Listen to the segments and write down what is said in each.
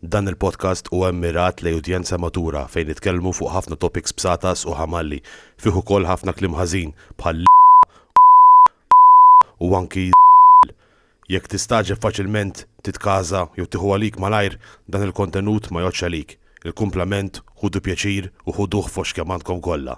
Dan il-podcast huwa mmirat lejn udjenza matura fejn nitkellmu fuq ħafna topics bsatas u ħamalli, fih ukoll ħafna kliem ħażin bħal l, u anki z, jekk tistagħġeb faċilment titkaża jew tieħu għalik malajr dan il-kontenut ma jgħoddx għalik, il-kumplament ħudu pjaċir u ħuduh fost kemm għandkom kollha.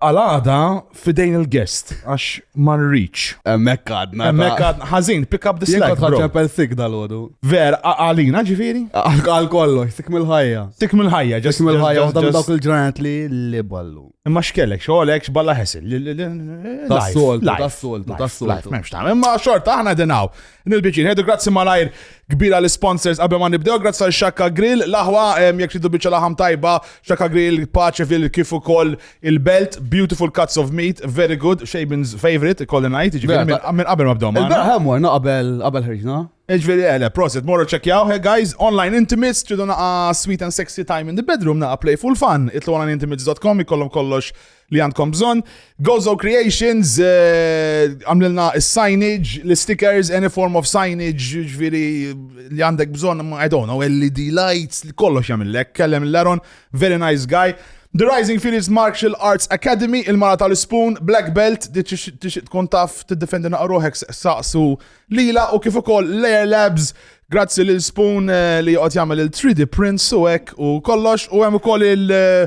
Għal-għada fidejn il-guest, għax ma rridx. Emmek għadna. Emmek għadna. Ħazin, pick up the slack. Jekk ċempel sik dal-ħodu. Ver, għalina ġifiri? Għal kollox, sik mill-ħajja. Sik mill-ħajja, ġas. Sik mill-ħajja, għadam dawk il-ġranet li li ballu. Imma xkellek, xoħlek, xballa ħesil. Tassoltu, tassoltu, tassoltu. Memx ta' imma xort, aħna denaw. Nil-biċin, ħedu grazzi malajr kbira l-sponsors qabel ma nibdew, grazzi għal Xakka Grill, laħwa, jek tridu biċċa laħam tajba, Xakka Grill, Paċeville, kif ukoll il-Belt, beautiful cuts of meat, very good, Shaben's favorite, kolli najt, ġifieri minn qabel ma bdew ma. Il-beraħ hemm warna qabel qabel ħriġna. Ġveri għele, eh, prosit, morru ċekjaw, he guys, online intimates, ċidu naqa sweet and sexy time in the bedroom, naqa playful fun, itlu għana intimates.com, jikollom kollox li għandkom bżon. Gozo Creations, eh, għamlilna uh, signage, li stickers, any form of signage, ġviri li għandek bżon, I don't know, LED lights, li kollox jamillek, kellem l-Laron, very nice guy. The Rising Phoenix Martial Arts Academy, il-mara tal-spoon, Black Belt, tixit tkun taf t-defendi naqroħek saqsu lila u kif ukoll Layer Labs, grazzi lil Spoon eh, li joqgħod jagħmel il-3D prints u hekk u kollox u hemm ukoll il- eh,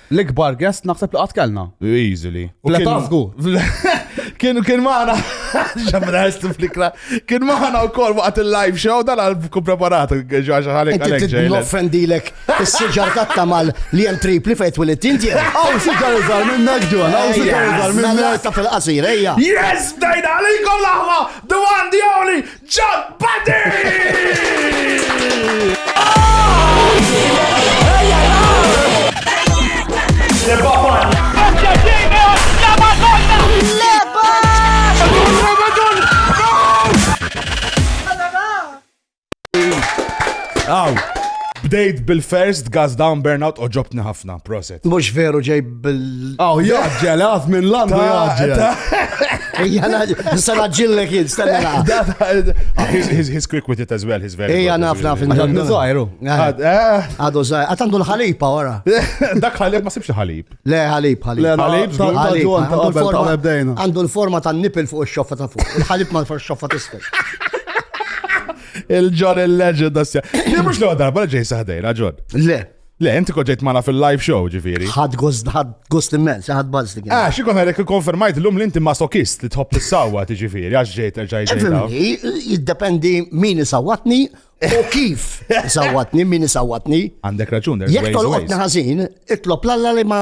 L-ikbar guest naħseb li qatt kellna. Easily. Fl-età żgur. Kien kien magħna ġamra flikra. Kien magħna wkoll waqt il-live show dan għal kun preparat ġaġa ħalek għalek ġej. Noffendilek is-siġar tat-tamal li hemm tripli fejn twilid inti. Aw siġar iżgħar minnek ġon, aw siġar iżgħar minnek. Ta' fil-qasir, ejja. Yes, dajna għalikom l-aħwa, the one, the only, Jump Buddy! Bdejt bil-first gas down burnout u ġobtni ħafna, proset. Mux veru ġej bil. Aw, jaġġel, għaf minn landu jaġġel. Ija sara ġillek jid, stanna. His quick with it as well, his very. Ija naf naf. Għaddu zaħiru. Għaddu zaħiru. Għatandu l-ħalipa wara. Dak ħalib ma sibx ħalib. Le, ħalib, ħalib. Le, ħalib, ħalib. Għandu l-forma ta' nipil fuq il-xoffa ta' fuq. Il-ħalib ma' fuq il-xoffa tisfel. Il-ġon il-legend, assja. Li mux l-għodar, bħal ġej saħdejn, ġon. Le. Le, inti koġġejt mana fil-live show, ġifiri. Ħad gost, ħad gost immens, ħad bazz li kien. Ah, xikon għalek konfermajt l-lum li inti masokist li tħobb is-sawa, ġifiri, għax ġejt erġaj ġejt. Jiddependi min isawatni u kif isawatni, min isawatni. Għandek raġun, Jek tolqotni ħażin, itlob l-alla li ma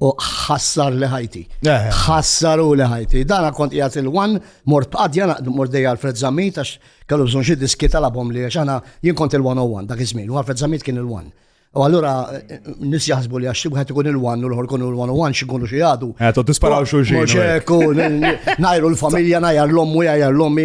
U ħassar li ħajti. Eh. Ħassaru li ħajti. Dana kont jgħat il-wan, mort b'qadja naqdu mort dejja l-Fred Zammit, għax kellu bżon xie diski tal-abom li għax għana jien kont il-101 dak iż-żmien, u għal-Fred Zammit kien il-1. U allura nis jaħsbu li għax wieħed ikun il-1 u l-ħor kunu l-101 xikunu xi għadu. Għetu eh, tisparaw xulxin. Najru l-familja, najru l-ommu, najru l-ommi.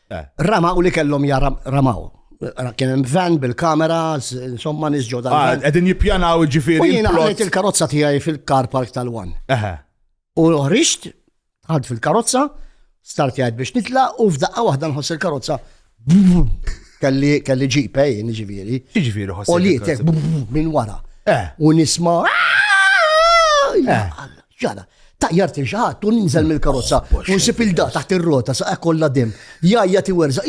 Ramaw li kellhom jara ramaw. Kien hemm van bil-kamera, insomma nies ġodda. Ah, qegħdin jippjanaw ġifieri. U jiena ħalejt il-karozza tiegħi fil-car park tal-wan. U ħriġt, ħad fil-karozza, start jgħid biex nitla u f'daqqa waħda nħoss il-karozza. Kelli kelli ġipe eh, jien ġifieri. Ġifieri ħoss. U li minn wara. Eh. U nisma' eh. Ġara, taqjar til xaħat, u ninżel mill-karozza, oh, u nsib il-da taħt il-rota, sa' kolla dim. Jajja ti werza,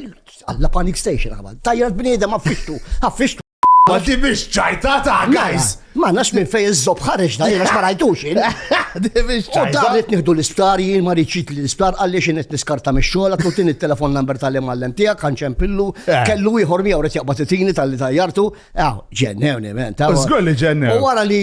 għalla panic station għabal. Tajjar bnida ma' fixtu, għaffixtu. Ma ti biex ċajta ta' guys. Ma nax minn fej iż-zob ħareġ da, jena xmarajtux jien. Di biex ċajta. U daħlet nieħdu l-isptar, jien ma riċit li l-isptar, għalli xin qed niskarta mix-xogħol, għatlutin il-telefon number tal-imgħallem tiegħek, ħanċem pillu, eh. kellu ieħor miegħu ret jaqbad it-tini tal-li tajjartu, għaw, ġennew, ġennew. Żgur li ġennew. U wara li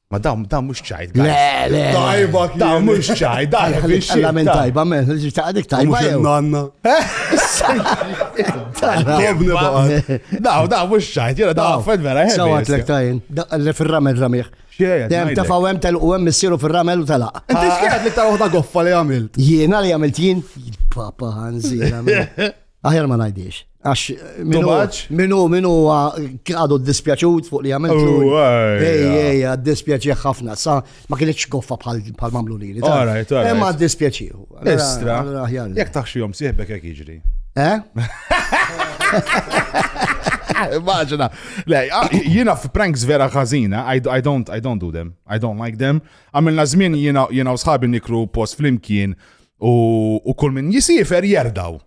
Ma dawn dawn mhux ċajt. Le, le. Tajba kien. Dawn mhux ċajt, dawn mhux ċajt. Għamen tajba, men, ġi ta' dik tajba. Mhux nanna. Dawn dawn mhux ċajt, jena dawn fed vera. Sawa tlek tajn, le fir-ramel ramiħ. Dem ta' fawem tal u għem missiru fil-ramel u tal-aq. Inti xkienet li ta' uħda goffa li għamilt? Jiena li għamilt jien? Papa għanzi. Aħjar ma najdix. Għax minu minu għadu dispjaċut fuq li għamil. Oh, ej, ej, dispjaċi ħafna. Sa ma kienieċ goffa bħal mamlu li. Alright, alright. Emma dispjaċi. Estra. Jek taħxi jom siħbek jek iġri. Eh? Immaġina. Lej, ah, jina f'pranks vera ħażina, I, I, don't, I don't do them. I don't like them. Għamilna żmien jina u sħabi nikru post flimkien U kull min jisifer jerdaw.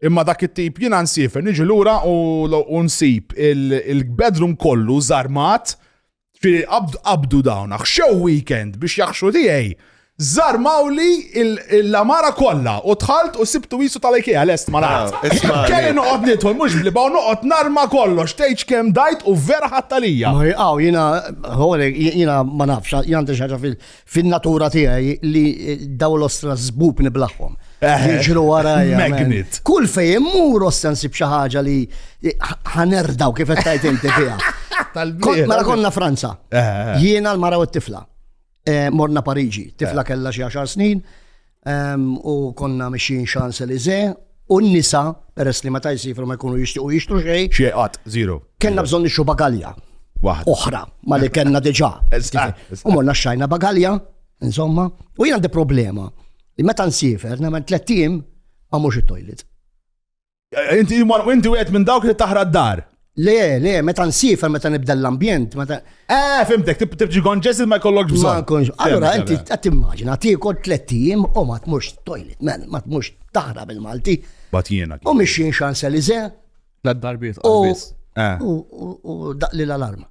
Imma dak it-tip jiena nsifer niġi lura u nsib il-bedroom kollu zarmat ġifieri qabdu dawn xew weekend biex jaħxu tiegħi. Zarmaw li l-amara kollha u tħalt u sibtu jisu tal-IKEA lest ma nagħt. Ah, Kelli noqgħod nidħol mhux bliba u noqgħod narma kollox tgħidx kemm dajt u vera ħattalija. Ma jqgħu jiena jiena ma nafx, jiena xi ħaġa fin-natura tiegħi li daw l-ostra żbub niblaħħom. Eh, Jiġru warajja. Magnet. Kull fejn immur ostra nsib xi ħaġa li ħanerdaw kif qed tajt inti fiha. Mela konna Franza. Eh, eh, Jiena l-mara u t-tifla. Morna Pariġi, tifla kellha xi 10 snin. U konna mixjin Champs-Élysées u n-nisa, peress li meta jsifru ma jkunu jixtiequ jixtru xejn. Xejn qatt, zero. Kellna bżonn nixtru bagalja. Waħda. Oħra, ma li kellna diġà. U morna xajna bagalja, insomma. U jien għandi problema. Meta nsifer, nemmen tlettijiem, ma mhux it-toilet. Inti inti wieħed minn dawk li taħra d-dar. Le, le, meta nsifer, meta nibda l-ambjent, meta. Eh, fimtek, tibġi gonġes ma jkollokx bżonn. Ma nkunx. Allora, inti qed immaġina, tiekol tliet ijiem u ma tmux toilet, man, ma tmux taħra bil-Malti. Bat jiena. U mixin xan selize. La darbiet, u eh. daqli l-alarma.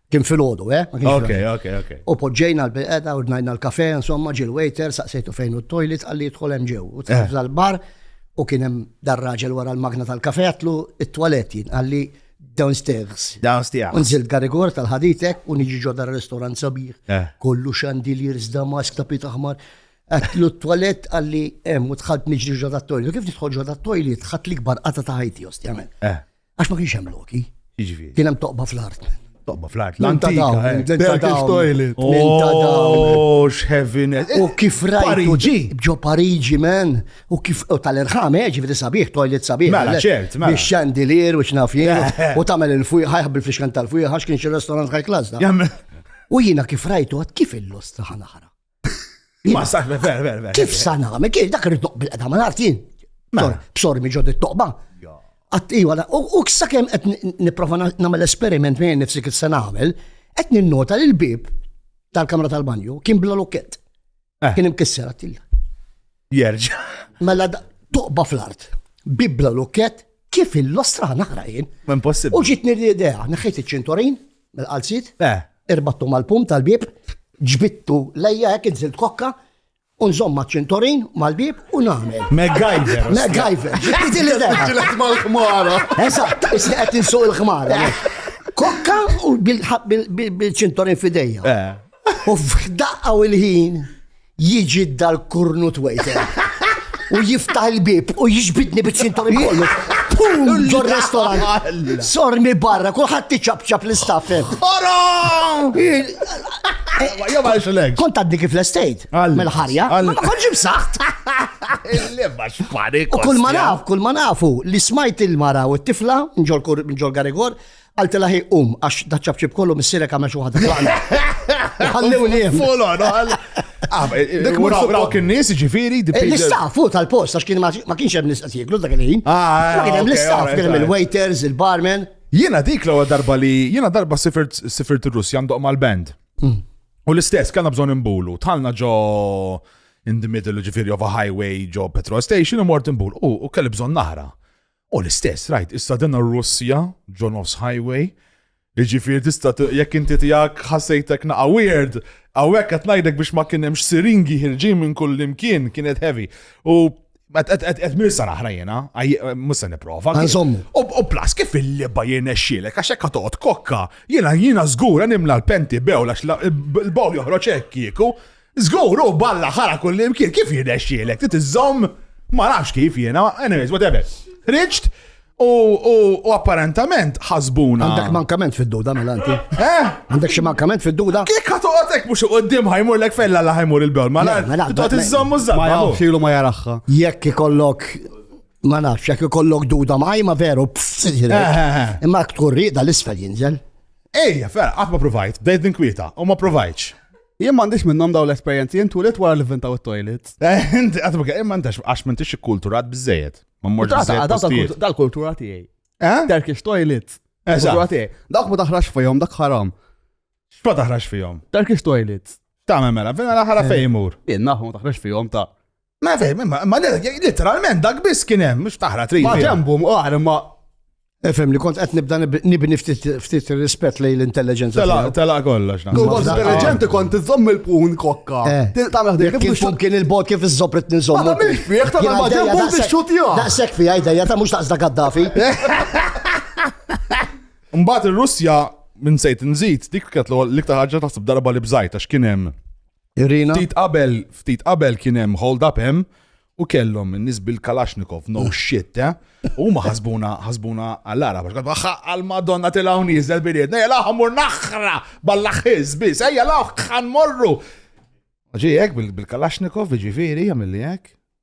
Kien fil-ħodu, eh? Ok, ok, ok. U poġġejna l-bilqeda, ordnajna l-kafe, insomma, ġil waiter, saqsejtu fejn u t-toilet, għalli jitħol hemm ġew. U tħafza eh. l-bar, u kien hemm dar-raġel wara l-magna tal-kafe, għatlu it-toilet jien, għalli downstairs. Downstairs. Unżil garigor tal-ħaditek, u niġi ġodda r-restaurant sabiħ. Eh. Kollu xandiliers, damask, tapit aħmar. Għatlu t-toilet għalli hemm u tħalt niġri ġodda t-toilet. Kif nidħol ġodda t-toilet, ħat l-ikbar qata ta' ħajti, ostjament. Eh. Għax ma kienx hemm loki. Jiġifieri. Kien hemm toqba fl-art. Toqba fl-art. L-antika. L-antika toilet. Oh, x'heaviness. U kif rajtu ġi. Ġo Pariġi, men. U kif tal-irħam, eh, ġifieri sabiħ, toilet sabiħ. Mela, ċert, mela. Biex xandilier u x'nafjien. Eh, eh. U tagħmel il-fujħ, ħajħab bil-fixkan tal-fujħ, għax kien xi restaurant high class da. U jiena kif rajtu għad kif il-lost taħna ħara. Ma saħna, ver, ver, ver. Kif sana? Ma kif dak rridu bil-qeda ma nartin. Mela. Bsor mi ġod it-toqba. Għat iwa, u kissa kem għet niprofa namel esperiment minn nifsi kif se namel, għet ninnota li l-bib tal-kamra tal-banju kien bla lokket. Eh. Kien imkisser għattilja. Jerġa. Mela toqba fl-art. Bibla lukket kif il-lostra naħra jien. Impossibbli. U ġitni l-idea, naħħejt iċ-ċintorin, mill-qalzit, eh. irbattu mal-pum tal-bib, ġbittu lejja hekk inżilt kokka, unżom ma' ċintorin, mal-bib u nagħmel. MacGyver. MacGyver. Ġitti l-idea. Ġilet mal-ħmara. Eżatt, isni qed insuq il-ħmara. Kokka u bil-ċintorin fidejja. Eh. U f'daqqa u l-ħin. Jiġi dal-kurnut wejter. U jiftaħ il-bib u jiġbidni biċ-ċintur kollu. Ġo restorant. Sormi barra, kulħadd tiċabċab l-istaffem. Orom! Jo ma xilek. Kont għaddi kif l-estate. Mel-ħarja. Ma konġi b'saħt. Il-leba xpari. Kull ma naf, kull ma nafu li smajt il-mara u t-tifla, nġol Garigor, Għaltila hi um, għax daċċabċib kollu missirek għamel xi waħda tlaqna. Ħallew niem. Folo, no, Dik mura raw kien nies ġifieri eh, L-istafu tal-post għax kien ma kienx hemm nies qed jieklu dak il-ħin. Ah, eh, ma kien hemm l-istaff, kien hemm il-waiters, il-barman. Jiena dik l-ewwel darba li jiena darba sifirt sifirt ir-Russja ndoq mal-band. Mm. U l-istess kellna bżonn imbulu, tħalna ġo in the middle ġifiri of a highway ġo petrol station u mort imbul u kelli bżon naħra. U l-istess, rajt, issa din ir-Russja, ġo nofs highway, Iġifiri tista' jekk inti tiegħek ħassejtek naqa' weird, hawnhekk qed ngħidlek biex ma kien hemmx siringi ħirġin minn kull imkien kienet heavy. U qed mirsa naħra jiena, mhux se nipprova. U plas kif il-liba jiena xxielek għax hekk toqgħod kokka, jiena jiena żgur nimla l-penti bew għax l-bow joħroġ hekk kieku. Żgur hu balla ħara kullimkien, kif jirnexxielek? Trid iżżomm ma nafx kif jiena, anyways, whatever. Riċt u apparentament ħasbuna. Għandek mankament fid-duda mela inti. Eh? Għandek xi mankament fid-duda? Kif ka toqgħodek mhux qudiem ħajmur lek fella la ħajmur il-bewl, ma nafx. Mela, Toqgħod mela, iżżomm u żżamm. Ma jafx ilu ma jaraħħa. Jekk ikollok ma nafx, jekk ikollok duda ma ma veru pfsirek. Eh, eh, eh. Imma tkun riqda l-isfel jinżel. Ejja, ferra, qatt ma provajt, bdejt ninkwieta, u ma provajtx. Jien m'għandix minnhom daw l-esperjenzi, jien tulit wara li vintaw it-toilets. Eh, inti qatt ma kien- imma intax għax m'intix ikkulturat biżejjed. Ma mmorx Tata, biżejjed għadaw postijiet. tal-kultu- Tal-kultura tiegħi. Eh? Turkish toilets. Eżatt. Kultura tiegħi. Dawk ma taħrax fihom, dak ħaram. X'ma taħrax fihom? Turkish toilets. Tagħmel mela, fina l-aħħar fejn imur. Jien nafu ma taħrax fihom ta' Ma fejn, ma ma literalment dak biss kien hemm, mhux taħra trid. Ma ġembu mqar ma Efem li kont qed nibda nib- nibni ftit ftit rispett lejn l-intelligenza. Tela, tiegħu. tela kollox. naħseb. Kont Waħda- intelligenti kont iżomm il-pun kokka. Eh. Tagħmel ħdejk Jekk il-pun kien il-bot kif iż-żobret nizom. Ma tagħmilx fih, tagħmel ma ġembu biex xutjah. Daqshekk fija idejja ta' mhux daqsda Gaddafi. Mbagħad ir-Russja minn sejt nżid dik kienet l-ewwel- l-iktar ħaġa taħseb darba li bżajt għax kien hemm Irina. Ftit qabel, ftit qabel kien hemm hold up hemm u kellhom in-nies bil-Kalashnikov, no shit, eh? U ma ħasbuna, ħasbuna għall-ara, għax għadba għal madonna tilgħu niżel biriet, nejja laħ mur naħra ball-aħħiż biss, ejja laħ ħan morru. Ġi hekk bil-Kalashnikov, ġifieri, jagħmilli hekk.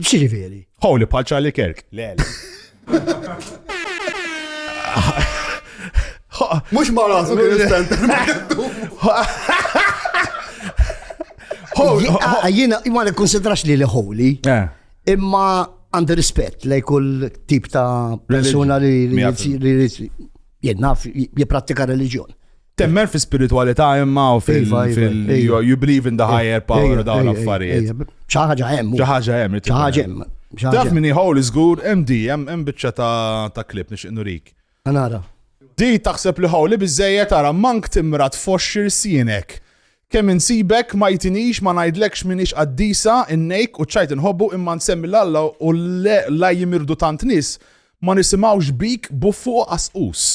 X'ġifieri? Holy bħal Charlie Kirk. Le. Mhux ma rasu kien ispenter. Jiena ma nikkonsidrax li li holy. Eh. Imma għandi rispett lej kull tip ta' persuna li Jien naf jipprattika reliġjon. Temmen fi spiritualità imma u fil- Iva, iva, fil- iva. you- you believe in the higher power Ejja, u dawn ejja, l-affarijiet. ejja, ejja. Xi ħaġa hemm. Xi ħaġa hemm. Xi ħaġa hemm. xi ħaġa Taf hemm. min jħol iżgur hemm di hemm hemm biċċa ta' ta' klip nixtieq nurik. Nara. Di taħseb li ħawli biżejjed tara mank timra tfoxxir sienek. Kemm insibek ma jtinix ma ngħidlekx minix qaddisa innejk u ċajt inħobbu imma nsemmi l-Alla u le la jimirdu tant nies Ma nisimgħux bik buffu u qasqus.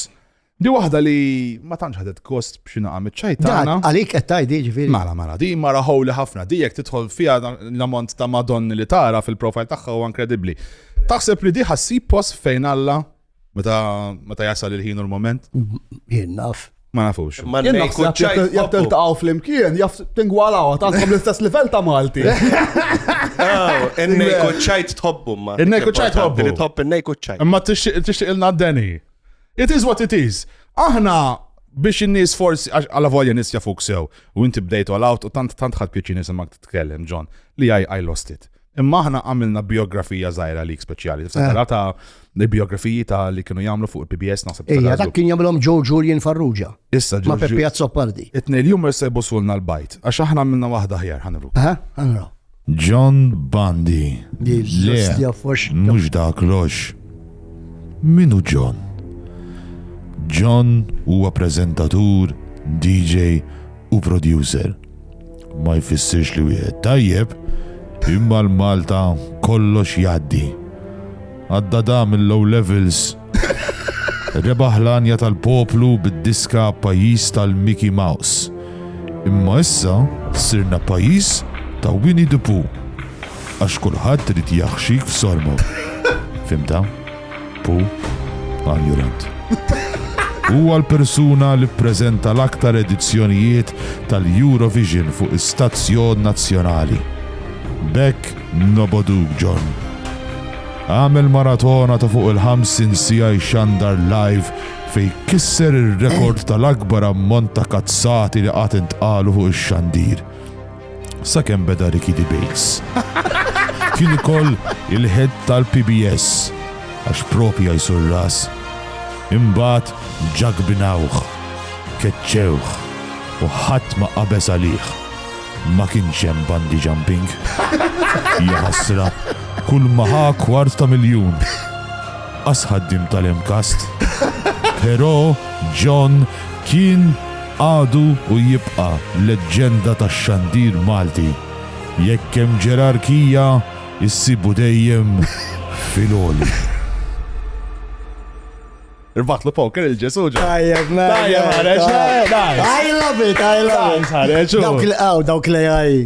Di waħda li ma tantx ħadet kost b'xi naqa' miċ-ċajtana. Għalik qed tgħid jiġifieri. Mala mala, di mara ħowli ħafna, di jekk tidħol fiha l-ammont ta' madonni li tara fil-profile tagħha huwa inkredibbli. Taħseb li di ħassib post fejn Alla meta jasal il-ħin u l-mument? Jien naf. Ma nafux. Ma Jien nejn naħseb kuċċaj jekk- jekk tħobbu. tiltaqgħu flimkien, jaf tingwalaw, għandkom l-istess livell ta' Malti. Oh, In-nej kuċċajt tħobbu ma. In-nej kuċċajt Importanti tħobbu. Li tħobb in-nej kuċċajt. Imma tixtieq tixtieq ilna d-deni. It is what it is. Aħna biex in-nies forsi għax għala volja nies jafuk sew u inti bdejt all out u tant tant ħadd pjaċi nisimgħek titkellem John li I, I lost it. Imma aħna għamilna biografija zaħira lik speċjali. Tifsa eh. ta' il-biografiji ta' li kienu jagħmlu fuq il-PBS naħseb. Ija, dak kien jagħmilhom Joe Julian Farrugia. Issa ġo. Ma' Peppi Azzopardi. Itnej l-jum se busulna l-bajt, għax aħna għamilna waħda ħjar ħanru. Ha, eh, ħanru. John Bandi. Le, mux dak lox. Minu John? John huwa prezentatur, DJ u producer Ma jfissirx li wieħed tajjeb, imma l-Malta kollox jgħaddi. Għad-Dada mill-Low Levels rebaħ l-għanja tal-poplu bid-diska Pajjiż tal-Mickey Mouse. Imma issa sirna pajjiż ta' Winnie the Pooh għax kulħadd irid jaħxik f'sormu. Fhimtha? Hu għall-Jurent. Huwa l-persuna li ppreżenta l-aktar edizzjonijiet tal-Eurovision fuq istazzjon nazzjonali. B'hekk nobgħoduk John. Għamel maratona ta' fuq il-ħamsin siegħa jxandar live fejn kisser ir-rekord tal-akbar ammont ta' kazzati li qatt intqalu fuq ix-xandir. Sakemm beda Ricky Debates. Kien ikoll il-head tal-PBS għax propi jajsu r-ras. Imbagħad ġagbinawh, keċċewh u ħadd ma qabeż għalih. Ma kienx hemm bungee jumping. Ja ħasra, kull ma ħa kwart ta' miljun. Qas ħaddiem tal-MCAST. Però John kien Għadu u jibqa' leġġenda tax-xandir Malti. Jekk hemm ġerarkija, issibu dejjem fil-għoli. Irbaħtlu poker il-Ġesu ġo. Tajjeb, man. Tajjeb, ħareġ. I love it, I love it. Ħareġ. Dawk li għaw, dawk li għaj.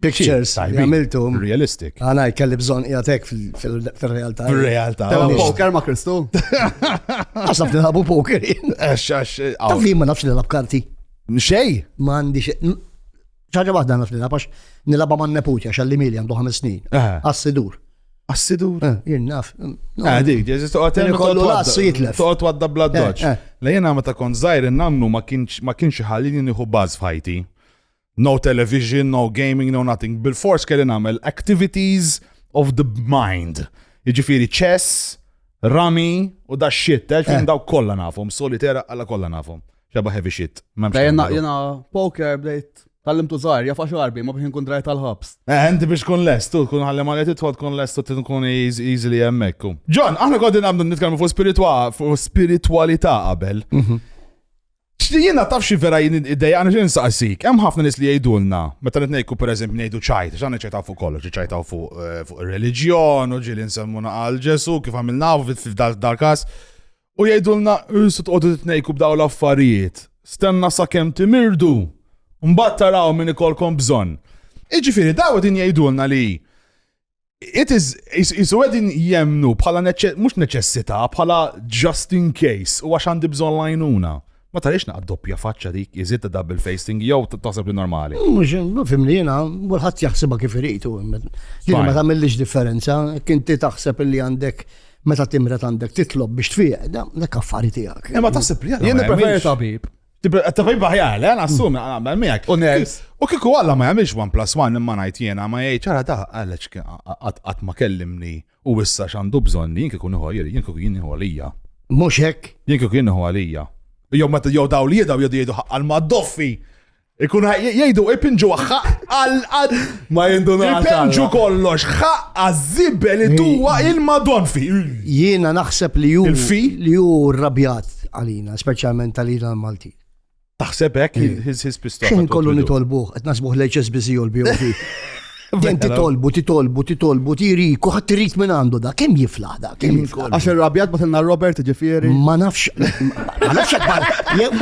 pictures li għamiltu. Realistic. Għana, kelli bżon jgħatek fil-realtà. Fil-realtà. Tela poker ma' Kristu. Għasaf li labu poker. Għax, għax. Taf li ma nafx li lab karti. Xej. Ma għandi xej. ċaġa wahda naf li lab għax nilaba ma' nepuċa xalli mili għandu ħames snin. Għassidur. Għassidur. Jien naf. Għadik, ġeżis toqgħod hemm kollu lassu jitlef. Toqgħod wadda bla doċ. La jiena meta kont żgħir in-nannu ma kienx ħallini nieħu baż f'ħajti. No television, no gaming, no nothing. Bil-fors kelli nagħmel activities of the mind. Jiġifieri chess, rami u da shit, eh, fin eh. daw kollha nafhom, solitera għala kollha nafhom. Xeba heavy shit. Jena, jena, poker bdejt Tallim tu zaħir, jafa xarbi, ma biex nkun drajt tal-ħabs. Eh, inti biex kun lest, tu kun għalli għalli titħol kun lest, tu kun easily jemmekku. John, aħna għodin għamdu nitkellmu fuq spiritualità qabel. Mhm. Jiena taf xi vera jien id-dejjaqni xi nsaqsik. Hemm ħafna nies li jgħidulna, meta qed ngħidku pereżempju ngħidu ċajt, x'għandna ċajtaw fuq kollox, ċajtaw fuq eh, fuq ir-reliġjon, u ġieli nsemmuna għal Ġesu, kif għamilna f'dal każ. U jgħidulna, "Isu tqogħdu titnejku b'daw l-affarijiet, stenna sakemm timirdu, mbagħad taraw min ikolkom bżonn." Iġifieri daw din jgħidulna li It is, jisu għedin jemnu bħala mux neċessita, bħala just in case, u għax għandi bżon lajnuna. Ma tarix naqqa doppja faċċa dik, jizid ta' double facing, jow taħseb li normali. Mux, fim li jena, għulħat jaħseba kif iritu. Jena ma tamillix differenza, kinti taħseb li għandek meta timret għandek titlob biex tfiq, dak affari tijak. Ma taħseb li jena. Jena preferi tabib. Tabib aħjar, le, nassum, għamel miegħek. U nerds. U kiku għalla ma jagħmilx one plus one imma ngħid jiena ma jgħid ċara ta' għaliex qatt ma kellimni u issa x'għandu bżonn jien kiku nieħu jien kiku jien nieħu għalija. Mhux hekk. Jien kiku jien nieħu għalija. Jew meta jew daw li jedaw jedu jgħidu ħaqqal ma' doffi. Ikun jgħidu ipinġu għal Ma jindunax. Ipenġu kollox, ħaqqa żibel li tuwa il-madon fi. Jiena naħseb li ju. Il-fi? Li ju rabjat għalina, speċjalment għalina l-Malti. Taħseb hekk his pistol. Xejn kollu nitolbuh, qed nasbuh l-HSBC u l-BOV. Din titolbu, titolbu, titolbu, tiriku, ħadd irid minn għandu da, kemm jifla? Għax il-rabjat batilna Robert ġifieri. Ma nafx. Ma nafx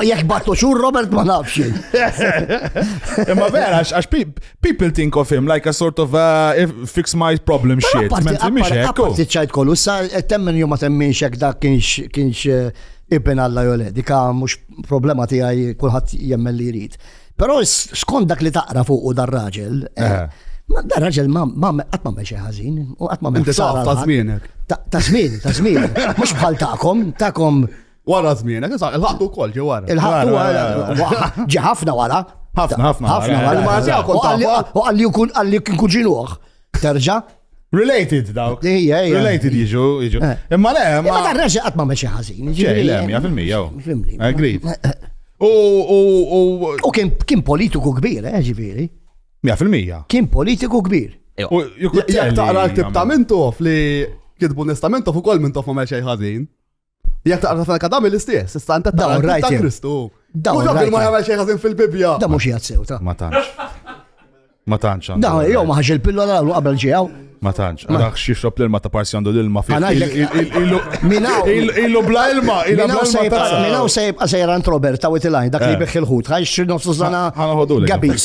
jekk battu xur Robert ma nafx. Imma vera, għax people think of him like a sort of uh, fix my problem shit. Għaparti ċajt kollu, sa temmen jom ma temminx jek dak kienx eh, ibn Alla jole, dika mux problema tijaj kullħat jemmen li jrid. Però skont dak li taqra fuq u dar raġel, eh, Ma da raġel ma qatt ma xi ħażin u qatt ma Inti taf ta' żmienek. Ta' żmien, ta' żmien. Mhux bħal tagħkom, tagħkom. Wara żmienek, il-ħaqtu wkoll ġi wara. Il-ħaqtu wara. Ġi ħafna wara. Ħafna, ħafna. Ħafna wara. U għalli jkun għalli kien kuġinuħ. Terġa' Related dawk. Ija, ija. Related jiġu, jiġu. Eh. Imma le, ma. Imma dan reġa qatt ma meċi ħażin. Ġej, le, mija fil-mija. Fimni. Agreed. U, u, u. U kien politiku kbir, eh, ġifieri. Mija fil-mija. Kien politiku kbir. Jek taqra l-tib ta' mintof li kitbu nista mintof u kol mintof ma meċi ħażin. Jek taqra tal kadami l-istess, issa anta taqra ta' Kristu. Da, u rabbi ma jagħmel xejn ħażin fil-Bibbja. Da mhux jgħid sew ta. Ma tantx. Ma tantx. Da, jew ma ħax il-pillola u qabel ġew. Ma tantx, għax xixrob l-ilma ta' parsi għandu l-ilma fi. Illu bla ilma, illu bla ilma. Minaw sejb għasajra ant Robert ta' witilaj, dak li eh. beħ il-ħut, għax nofsu zana gabis.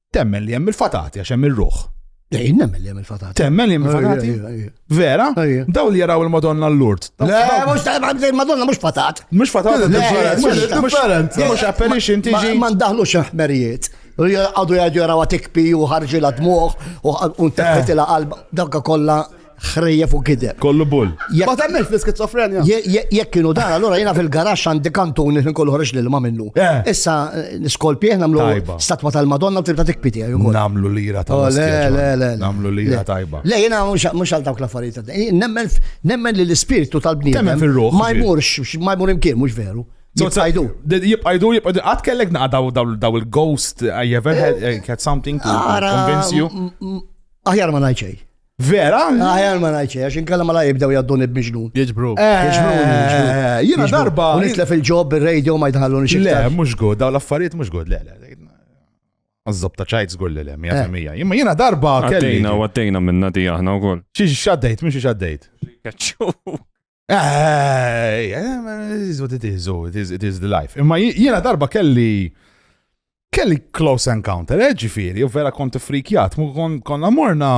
Temmen li hemm il-fatati għax hemm ir-ruħ. Ej, nemmen li hemm il-fatati. Temmen li hemm il-fatati? Vera? Daw li jaraw il-Madonna l-Lurd. Le, mhux il-Madonna mhux fatat. Mhux fatat, mhux apparition tiġi. Ma ndaħlux ħmerijiet. Għadu jgħadu jaraw tikpi u ħarġi la dmuħ u nteħħet eh. il qalba Dawka kollha ħrejjef u kideb. Kollu bull. Ma temmel fl-skizofrenja. Jekk kienu dan, allora jiena fil-garax għandi kantun li kollu ħreġ lil ma minnu. Eh. Issa eh, niskolpi aħna nagħmlu statwa tal-Madonna tibda tikpiti għajju. Eh, namlu lira ta' oh, le, le, le. Namlu lira tajba. Le, jiena mhux għal dawk l-affarijiet. Nemmen li l-ispirtu tal-bniedem. Ma jmurx, ma jmur imkien, mhux veru. Jibqajdu. Jibqajdu, jibqajdu. Għat kellek naqdaw daw il-ghost, I ever had something to convince you? Aħjar ma najċej. Vera? Aħjar ma ngħidx għax inkella ma la jibdew jadduni b'miġnun. Jiġbru. Eh, eh, jiena darba. Nisla fil-ġob bir-radio ma jidħallu nixi. Le, mhux good, daw l-affarijiet mhux good, le, le. Għazzob ta' ċajt zgur li l-em, jgħamija. Eh. Jimma jina darba kelli. Għaddejna, għaddejna minna di aħna u koll. Xiex xaddejt, mux xaddejt. Kacċu. Eh, it is what it is, oh, it is, it is the life. Imma jiena darba kelli kelli close encounter, eh, ġifiri, u vera kont frikjat, mu konna morna,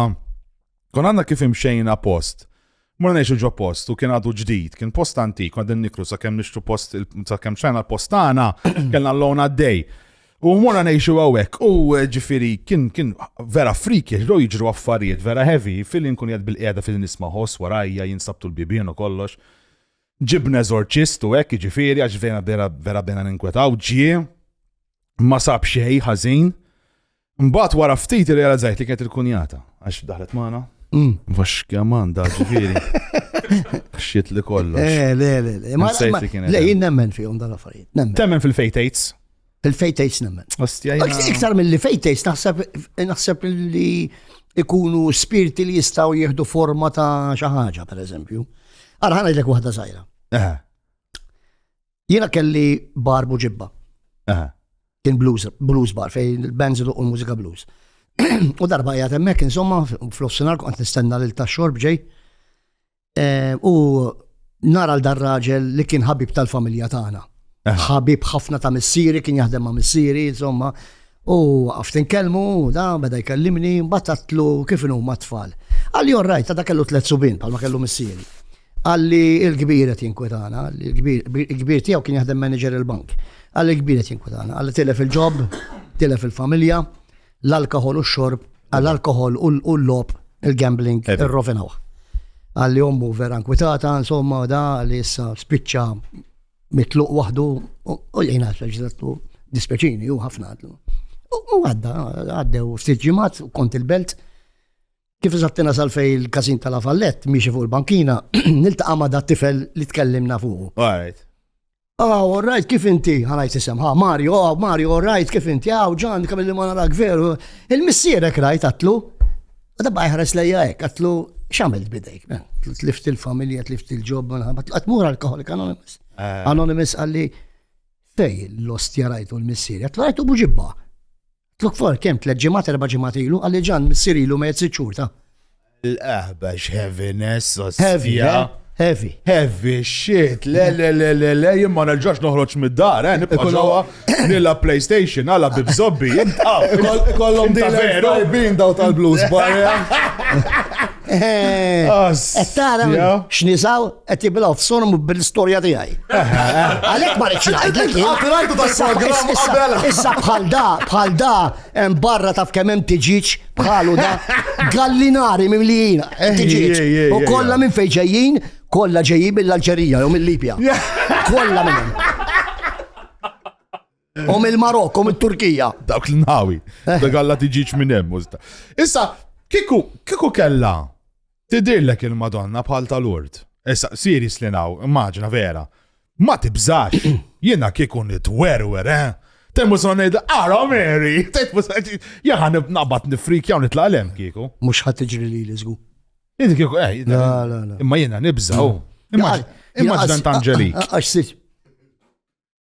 kon għanna kif imxejna post. Morna neċu ġo post, u kien għadu ġdid, kien post antik, għadden nikru sa' kem nixtu post, sa' kem xajna l-postana, kellna l-lona d-dej. U mora nejxu għawek, u eh, ġifiri, kien, kien vera friki, ġdo jġru affarijiet, vera heavy, fil kun jad bil-qeda fil nisma ħos, warajja, jinsabtu l-bibien u kollox. Ġibna eżorċist u hekk, ġifiri, għax vera, vera, vera bena ninkwetaw, ġie, ma sab xej, ħazin. Mbat wara ftit realizzajt li kienet il-kunjata, għax daħlet maħna. Mm. Vax kjaman da ġifiri. Xiet li kollox. Eh, le, le, le. Ma sejti kienet. Le, jien nemmen fihom dal-affarijiet. Temmen fil-fejtates. Il-fejtejs nemmen. Iktar mill-li fejtejs naħseb li ikunu spirti li jistaw jieħdu forma ta' xaħġa, per eżempju. Għara ħana jidlek wahda zaħira. Jena kelli barbu ġibba. Kien blues, blues bar, fej il-bands u l-mużika blues. U darba jgħat emmek, insomma, fl-offsinar kont nistenna l-ta' xorb ġej. Eh, u nara l-dar raġel li kien ħabib tal-familja tagħna. Ħabib ħafna ta' missieri, kien jaħdem ma' missieri, insomma. U għaftin kelmu, da, beda jkellimni, batatlu kif inu ma' tfal. Għalli orrajt, ta' kellu tlet subin, palma kellu missieri. Għalli il-kbir qed jinkwetana, il-kbir tiegħu kien jaħdem manager il-bank. Għalli il-kbir qed jinkwetana, għalli tilef il-ġob, tilef il-familja, l-alkohol u x-xorb, l-alkohol u l-lob, il-gambling, irrovinaw. Għalli ommu vera nkwitata, insomma, da li issa spiċċa mitluq waħdu u jgħina xaġdattu dispeċini u ħafna għadlu. U għadda, għaddew ftit ġimat kont il-belt. Kif zattina sal-fej il-kazin tal fallet miexi fuq il-bankina, niltaqa ma da tifel li tkellimna fuq. Alright. Ah, all right, kif inti? Għanajt isem, ha, Mario, ah, Mario, all right, kif inti? Ah, ġan, kam li ma narak veru. Il-missierek rajt għatlu. Għadda bajħares lejja ek, għatlu, xamil bidejk, men. Tlift il-familja, tlift il-ġob, għatlu, għatmur alkoholik anonymous. Eh. Anonymous għalli, fej l-ostja rajtu l-missieri, għatlu rajtu buġibba. Tlok for kemm tliet ġimgħat erba' ġimgħat ilu għalli ġan missier ilu mejt sitt xhur ta'. L-aħbax heaviness sosfija. Heavy. Heavy shit. Le le le le le jien ma nerġax noħroġ mid-dar, eh, nibqa' ġewwa nilla PlayStation għala bibżobbi jien Kollhom din veru bin daw tal-blues barja. Qed tara x'nisaw Qed jiblaw f'sorm bil-istorja tiegħi. Għalhekk ma rridx ngħidlek jien. Għatirajtu tal-programm qabel. Issa bħal da, bħal da, hemm barra taf kemm hemm tiġiġ bħalu da. Gallinari mimlijina, eh, tiġiġ. U kollha minn fejn ġejjin, kollha ġejjin mill-Alġerija jew mill-Libja. Kollha minn hemm. U mill-Marokk, u mit-Turkija. Dawk l-nawi. Eh. Dak għalla tiġiġ minn hemm. Issa, kiku, kiku kella tidirlek il-Madonna bħal tal-urt. Issa, siri slinaw, immaġna vera. Ma tibżax, jiena kiku nitwerwer, eh? Temmu sonid, ara Mary, temmu sonid, jahan nabat nifrik jaw nitla l-em kiku. Mux ħat iġri li l-izgu. Inti kiku, eh, imma jiena nibżaw. Immaġna tant ġelik. Għax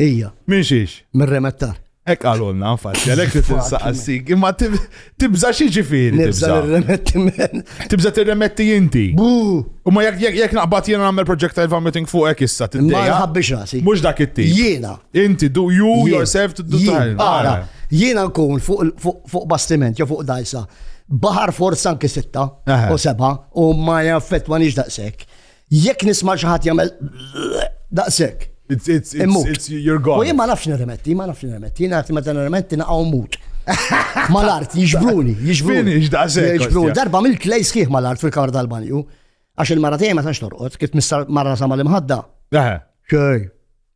Ija. Minn xiex? Minn remettar. Ek għalulna, nfatti, għalek li tinsaqsik, imma tibza xie ġifiri. Tibza remetti men. Tibza t-remetti jinti. Bu! U ma jek naqbat jena għamil project I've vomiting fuq ek issa t-dija. Ma jħabbix rasi. Mux dak it Jena. Inti, do you yourself to do Ara, jena nkun fuq bastiment, jo fuq dajsa. Bahar forza anki sitta u seba u ma jaffetwa nix daqsek. Jekk nisma' xi ħadd jagħmel daqshekk. U jien ma nafx nirremetti, ma nafx nirremetti, jien nafx meta nirremetti naqgħu mut. Mal-art, jiġbruni, jiġbruni. Jiġbruni, darba mill klej sħiħ mal-art fil-kamra tal-banju. Għax il-mara tiegħi ma tax torqod, kif mara sama l-imħadda. Xej.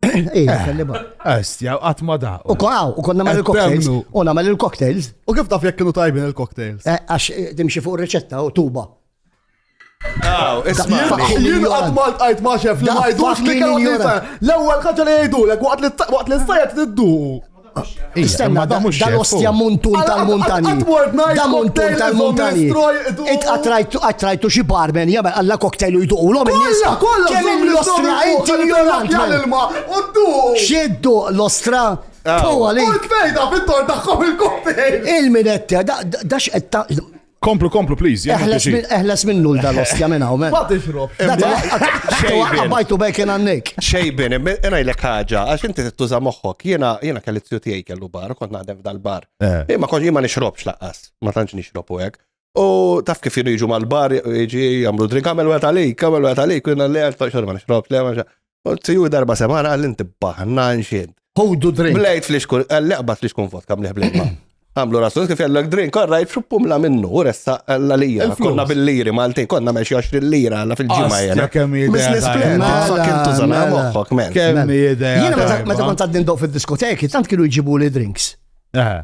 Ija, eh, kelliba. Estja, eh, għatma da. U konaw, u konna mal il-cocktails. U namel il-cocktails. U kif taf jek kienu tajbin il-cocktails? Eh, għax dimxi fuq il-reċetta u tuba. Aw, isma. Jien għad mal għajt ma xef li ma jdux li kellu L-ewwel ħaġa li jgħidu l waqt li s-sajja tiddu. Istenna, da mux dal-ostja muntun tal-muntani. Da muntun tal-muntani. Itqatrajtu qatrajtu xi barmen, jagħmel alla cocktail u jduqu l-om il-nis. Kemm l-ostra, inti ignorant. Xiddu l-ostra. Tuwa li. Fejda fit-tor tagħhom il-cocktail. Il-minetti, da x'qed Komplu, komplu, please. Eħles minnu l-dal-ostja minn hawn. Ma tixrob. Għabajtu bejken għannik. Xejbin, jena jlek ħagġa, għax inti t-tuża moħħok, jena jena kelli t-tju tijaj kellu bar, kont naħdem f'dal-bar. Eh. Imma kont jima nixrobx laqqas, ma tantx nixrob u għek. U taf kif jenu jiġu mal-bar, jiġi jamlu drink, għamel għet għalik, għamel għet għalik, jena li għal taċħor ma nixrobx, li għamel Tiju darba semana għal inti baħna nxid. Ħudu drink. Blejt flix kun, għal-leqbat flix kun vodka mliħ blejma. Għamlu rasu, kif jallak drink, għarra jitxu pumla minnu, u ressa għalla lija. Konna bil-liri, malti, konna meċi 20 lira għalla fil-ġimma jena. Kemm jidea. Business plan, fucking tużana moħħok, men. Kemm jidea. Jena meta kont għaddin doq fil-diskoteki, tant kienu jġibu li drinks.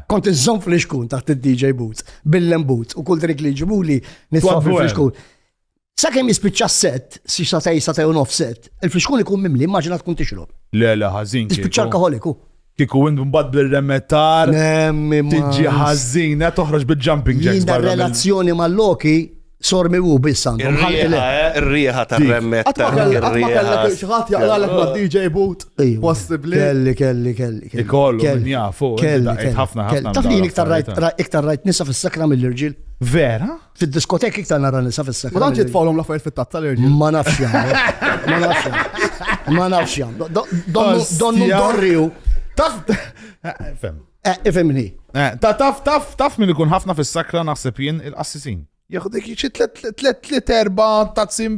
Kont iżżom flix kun taħt il-DJ boots, billen boots, u kull drink li jġibu li nisfa flix kun. Sakemm jispiċċa s-sett, xi satej, satej u nofs sett, il-fixkun ikun mimli, immaġina tkun tixrob. Le, le, ħażin. Tispiċċa alkoħoliku. Kiku int mbagħad bil-remetar. Tiġi ħażina toħroġ bil-jumping jacks. Jina relazzjoni mal-loki sormi u biss għandhom. Ir-riħa eh, tar-remmet. Xaħat jaqlalek ma' DJ boot. Possibli. Kelli, kelli, kelli. Ikollu, kelli. jafu. Eh, kelli, ħafna, ħafna. Taf li iktar rajt nisa fis-sakra mill-irġil. Vera? Fid-diskoteki iktar nara nisa fis-sekk. Ma tantx jitfgħulhom l-affarijiet fit-tatt tal-irġiel. Ma nafx jagħmlu. Ma nafx jagħmlu. Ma nafx jagħmlu. Donnu donnu dorriju. Taf. Fem. Eh, ifimni. Eh, ta' taf, taf, taf minn ikun ħafna fis-sakra naħseb jien il-qassisin. Jaħu dik xi tlet tlet tlet erba' tazzin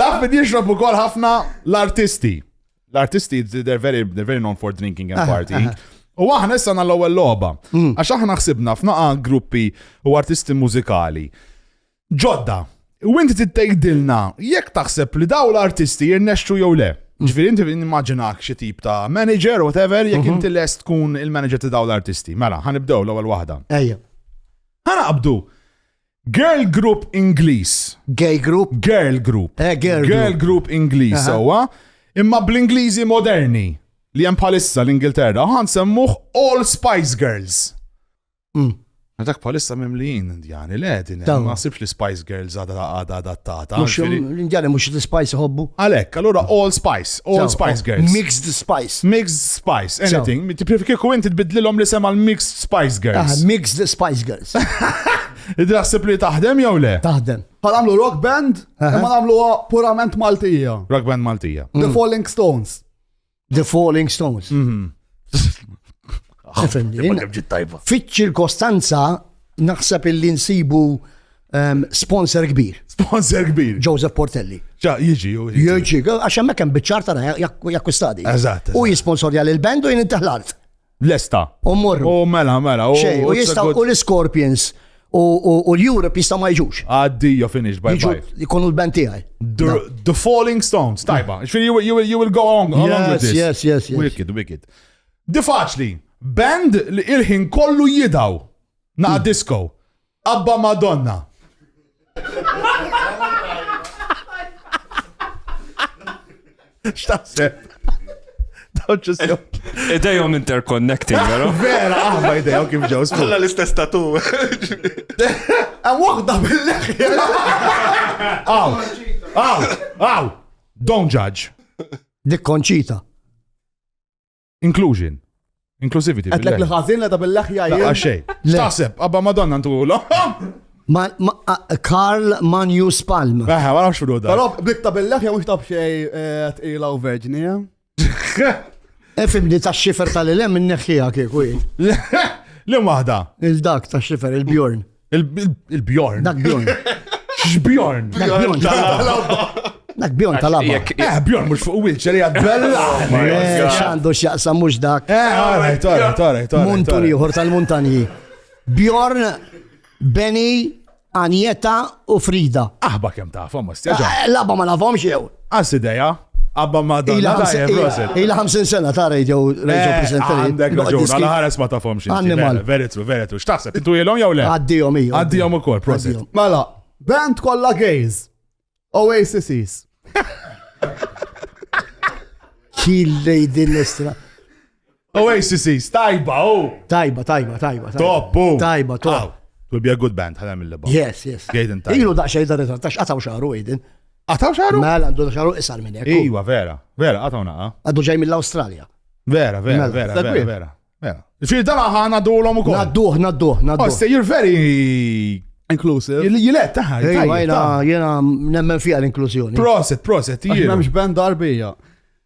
Taf min jixrob ukoll ħafna l-artisti. L-artisti they're very, they're very known for drinking and ah, partying. Ah, ah. U aħna issa l ewwel logħba. Mm. Għax aħna ħsibna f'naqa gruppi u artisti mużikali. Ġodda, u inti tittejdilna jekk taħseb li daw l-artisti jirnexxu jew le. Mm. Ġifieri inti nimmaġinak xi tip ta' manager whatever jekk mhm. inti lest tkun il-manager ta' daw l-artisti. Mela, ħanibdew l-ewwel waħda. Ejja. Ħanaqbdu. Girl group Ingliż. Gay group? Girl group. Eh, girl, girl group Ingliż sewwa. Imma bl-Ingliżi moderni li hemm bħalissa l-Ingilterra, ħan semmuh All Spice Girls. Mm. Dak palissa mimlijin indjani, le, din ma sibx li Spice Girls għada għada adattata. L-indjani mux li Spice hobbu. Għalek, allora All Spice, All Spice oh, Girls. Mixed Spice. Mixed Spice, anything. Tiprifiki ku inti tbidlilom li sema l-Mixed Spice Girls. Ah, mixed Spice Girls. Id naħseb li taħdem jew le? Taħdem. Ħa nagħmlu rock band, imma nagħmluha purament Maltija. Rock band Maltija. The Falling Stones. The Falling Stones. Mhm. Fiċ-ċirkostanza naħseb illi nsibu ehm, sponsor kbir. Sponsor kbir. Joseph Portelli. Ġa, jiġi, jiġi. Għax hemmhekk hemm biċċar tara jakkustadi. Eżatt. U jisponsorja l band u jien intaħlart. Lesta. U morru. U mela, mela. U jistaw u l-Scorpions u l-Europe jistaw ma jġux. Għaddija finish, bye bye. Jkunu l-band tijaj. The Falling Stones, tajba. Xfiri, you will go on. Yes, yes, yes. Wicked, wicked. Di faċli, band li il-ħin kollu jidaw. Naqa mm. disco. Abba Madonna! X'taħseb? Idejhom interconnecting, vero? Vera, aħna ah, idejhom kif ġew skur. Kolla l-istess tatu. Hemm waħda bil-leħja. Aw, aw, aw, don't judge. Dik konċita. Inclusion. Inclusivity. Għedlek li ħazin ta' bil-leħja jgħid. Għaxej. Taħseb, għabba madonna ntu Karl Manju Spalm. Eħe, ma nafx da. Però blitta bil-leħja mux taf xej eh, tqila u verġni, eh? Efimni ta' xifer tal-ilem minneħħija kieku. Li waħda. Il-dak ta' xifer, il-bjorn. Il-Bjorn. Dak Bjorn. X'Bjorn? Dak Bjorn tal-logħba. Dak Bjorn tal-logħba. Eh, Bjorn mhux fuq wheelchair hija bella. Oh eh, x'għandu x'jaqsam mhux dak. Eh, għaraj, għaraj, għaraj. Muntun ieħor tal-muntanji. Bjorn Beni Anjeta u Frida. Aħba kem tafhom, ma stjaġa. Eh, Laba ma nafhomx jew. Għas ideja. Abba ma dan. Ila 50 sena ta' radio, radio eh, presenter. Għandek raġun, għala ħares ma tafhom xi. Annimal. Very true, very true. X'taħseb, intu jilhom jew le? Għaddihom iju. Għaddihom ukoll, prosit. Mela, band kollha gays. Oasis. Killej din l-istra. Oasis, tajba, u. Oh! Tajba, tajba, tajba. Top, u. Oh! Tajba, top. Will be a good band, ħana mill ba Yes, yes. Gaiden tajba. Ilu daqxej da rezultat, tax għataw xaru, Aiden. Għataw xaru? Mela, għandu xaru isar minn jek. Iwa, vera, vera, għataw naqa. Għaddu ġej mill-Australia. Vera, vera, mela, vera, vera, vera. Mela. Fil dala ħana dulom u kol. Nadduħ, nadduħ, nadduħ. Oh, you're very Inclusive. Jilet taħħa. Jena, jena nemmen fija l-inklużjoni. Proset, proset, jena. Jena mx band darbija.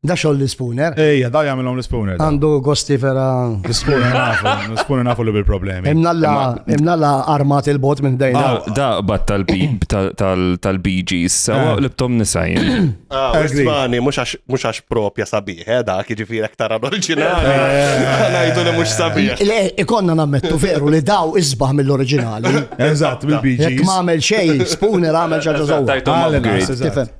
Da xoll l-spooner. Ejja, da jagħmilhom l-spooner. Għandu gosti vera. L-spooner nafu, l-spooner nafu li bil-problemi. Imna la armat il-bot minn dejna. Ah, da bat tal-BG issa eh. libtom nisajn. Ah, Ismani, mhux għax propja sabiħ, eh, da jiġifieri aktar oriġinali. Eh. Ngħidu li mhux sabiħ. Ikonna nammettu veru li daw isbaħ mill-oriġinali. Eżatt, mill-BG. Jekk ma għamel xejn, spooner għamel xi ħaġa żewġ.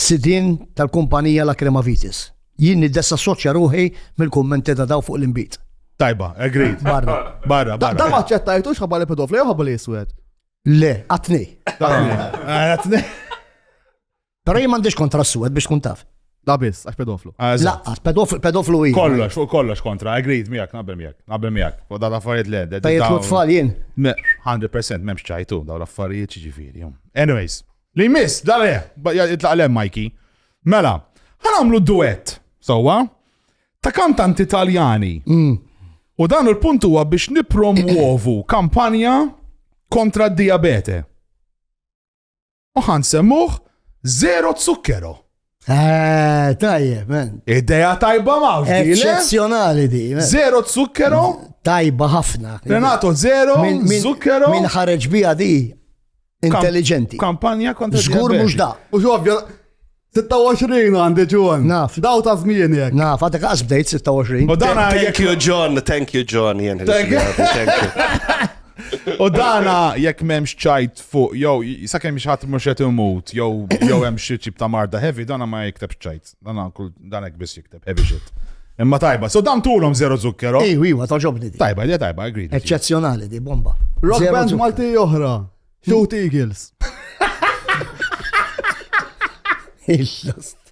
sidien tal-kumpanija Lacrimavitis. Jien niddesassoċja ruħi mill-kummenti ta' dawn fuq l-inbid. Tajba, agreed. Barra. Barra, barra. Dan ma ċċettajtux ħabba li pedofli jew ħabba li jiswed? Le, għatni. Għatni. Pero jien m'għandix kontra s-suwed biex tkun taf. La biss, għax pedoflu. Ah, Laqqas, pedoflu i. Kollox, fuq kollox kontra, agreed miegħek, naqbel miegħek, naqbel miegħek. U dal affarijiet le. Tajjeb tfal jien. 100% m'hemmx ċajtu daw l-affarijiet ġifieri. Anyways, Li jmiss, dal eh, jitlaq l-em Mikey. Mela, ħanamlu duet, sowa, ta' kantanti Taljani. Mm. U dan il-punt huwa biex nipromuovu kampanja kontra d-diabete. U ħan semmuħ zero zukkero. Eh, tajjeb, men. Ideja tajba mawx. Eccezjonali di. Zero zukkero. Tajba ħafna. Renato, zero zukkero. Min ħareġ bija di. Intelligenti. Kampanja kontra. Zgur mux da. Mux ovvja. 26 għandi ġon. Naf. Daw ta' zmien jek. Naf, għatek għas bdejt 26. U dana Thank you John, thank you John. Thank you. U dana jek memx ċajt fuq jew sakemm xi ħadd mhux qed imut jew jew hemm xi tip ta' marda heavy dan ma jikteb ċajt. Dan kull dan hekk biss jikteb heavy shit. Imma tajba, so dan tulhom zero zukkero. Ejwa, ejwa, toġobni di. Tajba, di tajba, agree. Eċċezzjonali di bomba. Rock band Malti oħra. Two Eagles. Il-last.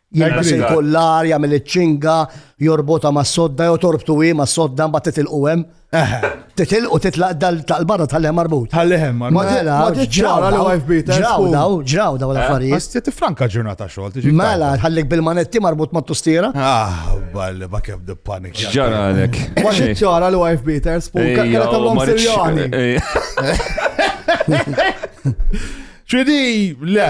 Jilbes il-kollar, jagħmel iċ-ċinga, jorbota ma' sodda, jew torbtu hi ma' sodda mbagħad titilqu hemm. Titilqu titlaq dal-barra tal-hemm marbut. Tal-hemm marbut. Mela, ġraw daw, ġraw daw, ġraw daw l-affarijiet. Bas ti tifranka ġurnata xogħol tiġi. Mela, ħallik bil-manetti marbut ma' tustiera. Ah, balli ma kemm di panik. Ġaralek. Ma xi ċara li wife beaters, punka kera tagħmlhom serjani. Ċidi, le.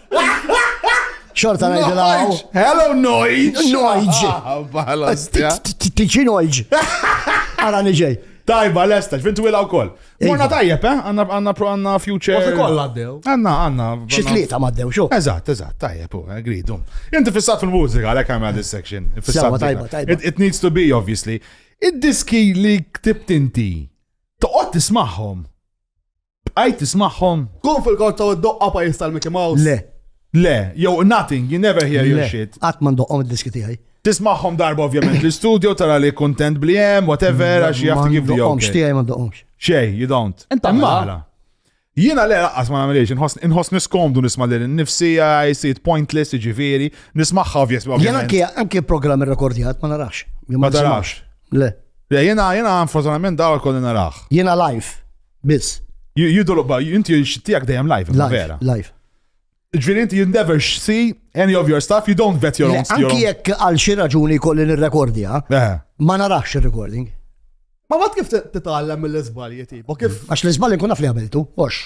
Xorta ngħidilha. Hello noise. Noise. Ah, Tiġi noise. Ara niġej. Tajba, l-esta, fin twila u koll. Morna tajjeb, eh? Għanna, għanna, għanna future. Għanna koll għaddew. Għanna, għanna. Xitlieta maddew, xo. Eżat, eżat, tajjeb, u, eh, gridu. Inti fissat fil-mużika, għalek għamil this section. Fissat, tajba, tajba. It, it needs to be, obviously. Id-diski li ktibt inti, toqgħod tismagħhom. Bqajt tismagħhom? Tkun fil-korza u ddoqqa pajjiż tal-Mickey Mouse? Le. Le, jew nothing, you never hear your shit. Qatt ma ndoqqhom id-diski tiegħi. Tismagħhom darba ovvjament l-istudio tara li kuntent bli hemm, whatever, għax jaf kif li jom. X'tiegħi ma ndoqqhomx. Xej, you don't. Inta mala. Jiena le laqqas ma nagħmilx, inħoss niskomdu nisma' lil nifsi I see it pointless, jiġifieri, nismagħha ovvjess. Jiena anke anke programm irrekordjat ma narax. Ma tarax. Le. Jiena jiena unfortunatament dawl kolli narax. Jiena live. Biss. You don't, but inti tiegħek dejjem live, vera. Live. Ġviri inti you never see any of your stuff, you don't vet your own stuff. Anki jekk għal xi raġuni kolli nirrekordja, eh. ma narax ir-recording. Ma mat kif titgħallem mill-iżbalji tipo, kif? Għax l-iżbalji kun naf li għamiltu, ox.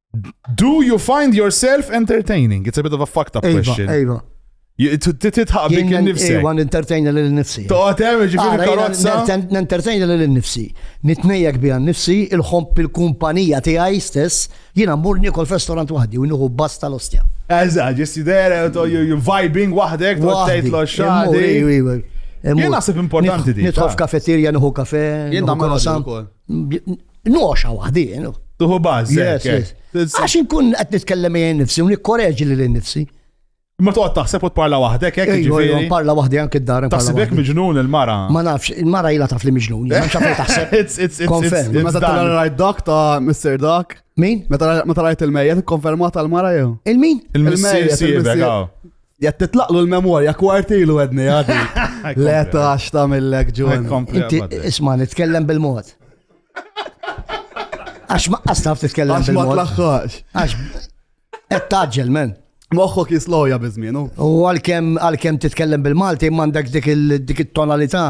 Do you find yourself entertaining? It's a bit of a fucked up question. Ejva, Titħaq bik nifsi. Ejva, n-entertainer li nifsi. Toqatem, ġifiri karozza. N-entertainer li nifsi. Nitnejjek bija nifsi, il-ħomp il-kumpanija tiegħi stess, jiena mmur nikol f'restaurant waħdi u nieħu bas tal-ostja. Eża, ġisti dera, you vibing waħdek, tgħid lo xadi. Jien naħseb importanti di. Nitħof kafeterja, nieħu kafe. Jien nagħmel Noxa waħdien. Tuħu bażi. Għax inkun qed nitkellem jien nifsi u nikkoreġi lil nifsi. Ma toqgħod taħseb u tparla waħdek hekk jiġifieri. Parla waħdi anke d-dar. Taħsibek miġnun il-mara. Ma nafx, il-mara ilha taf li miġnun. Ma nafx fejn taħseb. Konferm. Meta tara rajt dak ta' Mr. Dak. Min? Meta rajt il-mejja tikkonferma tal-mara jew? Il-min? Il-mejja. Jett titlaqlu l-memorja kwartilu għedni għadi. Le tax ta' millek ġun. Inti isma' nitkellem bil-mod. Għax ma qastaf titkellem bil-mod. Għax ma tlaħħax. Għax qed taġġel men. Moħħok jisloja bizminu. U għal-kem titkellem bil-Malti, mandek dik il-tonalità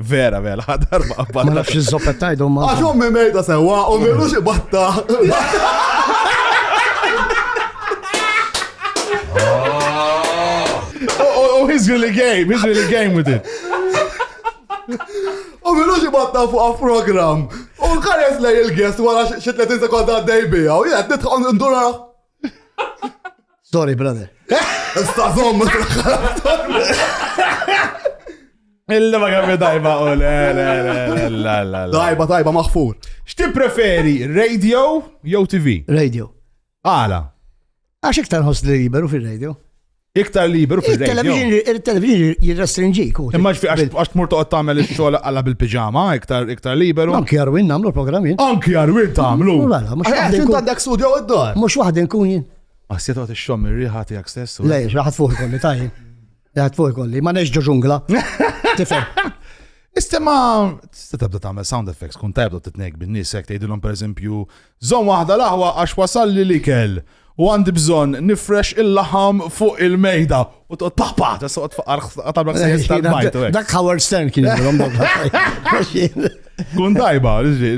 Vera, vera, ħadar ma' batta. Ma nafx iż-zoppa tajdu ma. Għax ommi mejda sewa, u melu xi batta. Oh, he's really game, he's really game with it. U melu xi batta fuq a program. U kares lej il-guest wara xi 30 sekonda għaddej bija, u jgħed nidħol ndura. Sorry, brother. Stazom, ma Illa ma għamil dajba u le, le, le, le, le. Dajba, dajba, maħfur. Xti preferi, radio jew TV? Radio. Għala. Għax iktar ħoss li jiberu fil-radio. Iktar liberu fil-radio. Il-television jirrestrinġik. Imma ġfi għax tmur toqgħod tagħmel ix-xogħol għalla bil-piġama, iktar iktar liberu. Anki Arwin nagħmlu programmi. Anki Arwin tagħmlu. Xint għandek studio għad-dor. Mhux waħda nkun jien. Ma s-siet għot il-xom il-riħa tijak stess. Le, raħat fuq kolli, tajn. Raħat fuq kolli, ma neġġu ġungla. Tifem. Ista ma, tista tabda tamel sound effects, kun tabda t-tnek bin-nis, jek tejdilom per eżempju, Żomm waħda l-aħwa għax wasalli l-ikel u għandi bżonn nifrex il-laħam fuq il-mejda. U toqgħod paħ paħ, tista' toqgħod faqar tagħmel ħsejjes tal-bajt. u hekk. Dak Howard Stern kien jagħmilhom dawk. Kun tajba, ġi.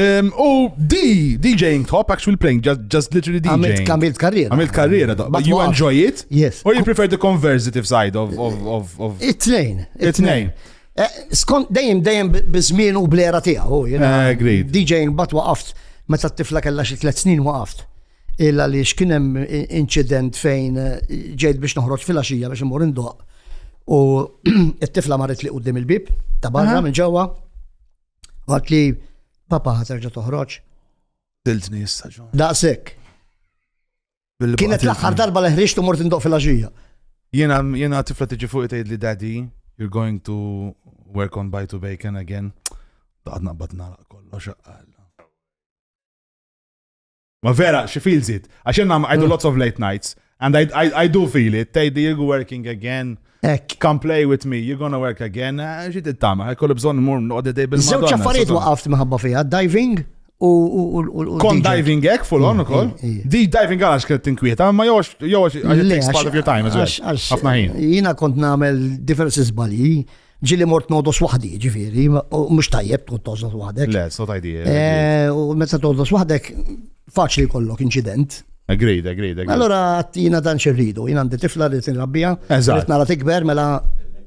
Em, U di, DJing top, actually playing, just, just literally DJing. Għamilt għamilt karriera. Għamilt karriera, da- But you what? enjoy it? Yes. Or you prefer the conversative side of, of, of, of It-tnejn. It-tnejn. Eh, skont dejjem dejjem biż-żmien u blera tiegħu. Eh, agreed. DJ mbagħad waqaft meta t-tifla kellha xi tliet snin waqaft. Illa li x'kien hemm inċident fejn eh, ġejt biex noħroġ fil-għaxija biex imur indoq. U t-tifla marret li qudiem il-bib ta' barra minn ġewwa. Għad li papa ħaterġa toħroġ. Diltni jista' ġo. Daqshekk. Kienet l-aħħar darba li ħriġt u mort indoq fil-għaxija. Jiena jiena tifla tiġi fuq tgħid li daddy, you're going to work on by to bacon again. Daqad naqbad nara kollox Ma vera, she feels it. Għax jenna għajdu lots of late nights. And I, I, I do feel it. Tejdi, you're working again. Ek. Come play with me, you're gonna work again. Eh, Ġi tittama, kollu bżon mur noqgħod idej bil Żewġ affarijiet waqaft minħabba fiha, diving u. Kon diving ek full on mm, ukoll. Mm, mm. Di diving għalax kienet tinkwieta, ma jox jox għax part of your time as well. Ħafna ħin. Jiena kont nagħmel diversi żbalji ġili mort nodos wahdi, ġifiri, mux tajjeb tkun todos wahdek. Le, so tajdi. Eh, eh, u meta todos wahdek, faċli jkollok incident. Agreed, agreed, agreed. Allora jina dan xerridu, jina għandi tifla li tinrabbija, rrit nara tikber mela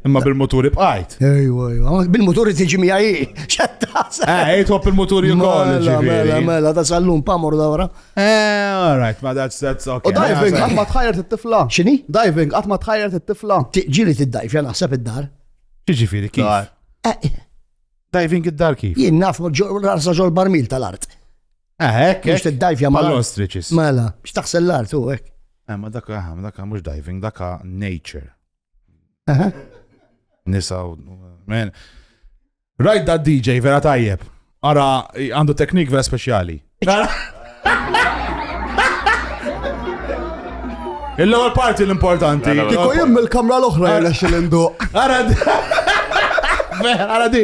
Imma bil-muturi bqajt. Ejwa, ejwa. Bil-muturi tiġi miħaj. Xattasa. Eh, ejt għop il-muturi u koll. Mela, mela, mela, da sallum pamur dawra. Eh, all right, ma that's, that's okay. U diving, għat ma tħajr t-tifla. Xini? Diving, għat ma tħajr t-tifla. Ġili t-dajf, jana ħseb id-dar. Ġiġi firi, kif? Eh, eh. Diving id-dar kif? Jien naf, rasa ġol barmil tal-art. Ah, hekk, Biex tiddajvja ma' l-ostriċis. Mela, biex taħsel l-art u hekk. Eh, ma dak aha, ma dak mhux diving, dak nature. Aha. Nisa u. Men. Rajt da DJ vera tajjeb. Ara għandu teknik vera speċjali. Il-lowel parti l-importanti. Kiku jim il-kamra l-oħra jgħalax il-indu. Ara di. Ara di.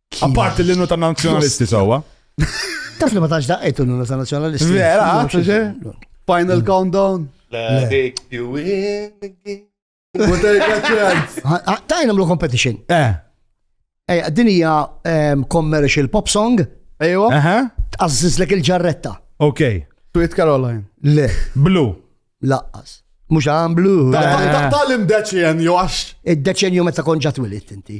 Apparti l-innu ta' nazjonalisti sawa. Taf li ma tax daqqajtu l-innu ta' nazjonalisti. Vera, għax Final countdown. Dik you win again. Tajna mlu competition. Eh. Ej, din hija ehm, commercial pop song. Ejwa. Tqażżiż lek il-ġarretta. Ok. Tweet Caroline. Le. Blue. Laqqas. Mux għan blu. Tal-imdeċenju għax. Id-deċenju meta konġat wilit inti.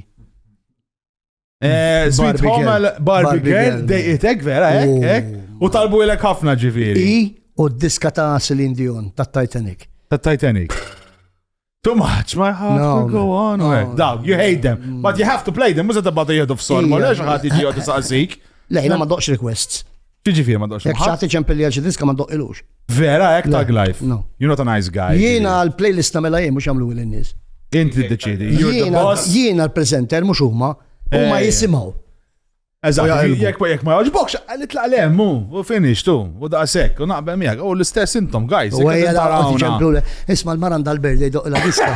Eh, Sweet Home għal Barbie Girl, dejqitek vera, ek, oh. ek. U talbu ilek ħafna ġifiri. I u d-diska ta' Celine Dion, ta' Titanic. Ta' Titanic. Too much, my heart no, will go on. No, no, Dawg, you hate them, mm. but you have to play them, mużet bada jihdu f-sol, ma lex ħati ġiju tisaqsik. Lejna ma doqx requests. Ġiġifieri ma doqx. Jekk xagħti ċempilli għal xi diska ma doqqilux. Vera hekk tag life. No. You're not a nice guy. Jiena l-playlist nagħmilha jien mhux jagħmlu lil nies. Inti ddeċidi. Jiena l-presenter mhux huma. Huma eh. jisimgħu. Eżatt, jekk jekk ma jogħġbokx, nitlaq lem u u finish tu, u daqshekk, u naqbel miegħek, u l-istess intom guys. U ejja taraw. Isma' l-maran dal-berdej doq la diska.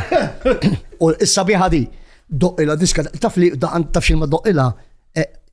U issa biħa di, doq la diska, taf li taf xil ma doq ila, eh,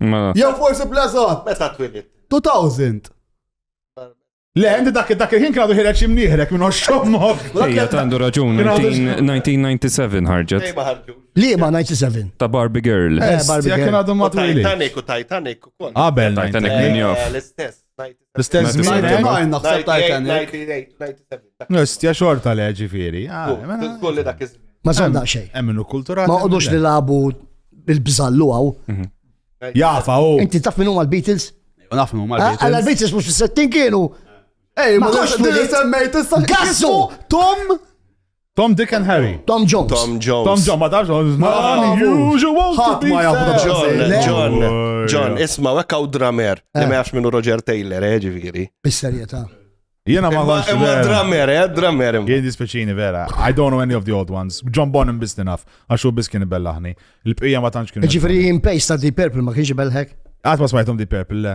Mela. Jew forsi blażot. Meta twilid? 2000. Le, għandi dak dak il-ħin kienu ħireġ imnieħrek minn oxxommok. Ija, għandu raġun, 1997 ħarġet. Li ma 97? Ta' Barbie Girl. Eh, Barbie Girl. Kienu għadhom ma' Titanic u Titanic u kol. Abel, Titanic minn jof. L-istess, L-istess żmien hemm naħseb Titanic. Nistja xorta le ġifieri. Ah, mela- Kulli dak iż Ma żomm daqsxejn. Hemm minnu kulturali. Ma qogħdux li labu bil-bżallu għaw. Mhm. Jafa u. Inti taf minn huma l-Beatles? Naf minn huma ah, l-Beatles. Għalla l-Beatles mhux fis-settin kienu. Ej, ma tux li semmejt issa. Gassu! Tom! Tom, Dick and Harry. Tom Jones. Tom Jones. Tom Jones, ma tafx. Ħadd ma jafu Tom Jones. John, John, isma' hekk hawn dramer li eh. ma jafx minnu Roger Taylor, eh, ġifieri. Bis-serjetà. Jena ma għax. Ma dramer, eh, dramer. Jien dispeċini vera. I don't know any of the old ones. John Bonham biss naf, għax u biss kien bellaħni. Il-bqija ma tantx kien. Ġifieri in pace ta' Deep Purple ma kienx belħek. Għad ma smajtom Deep Purple, le.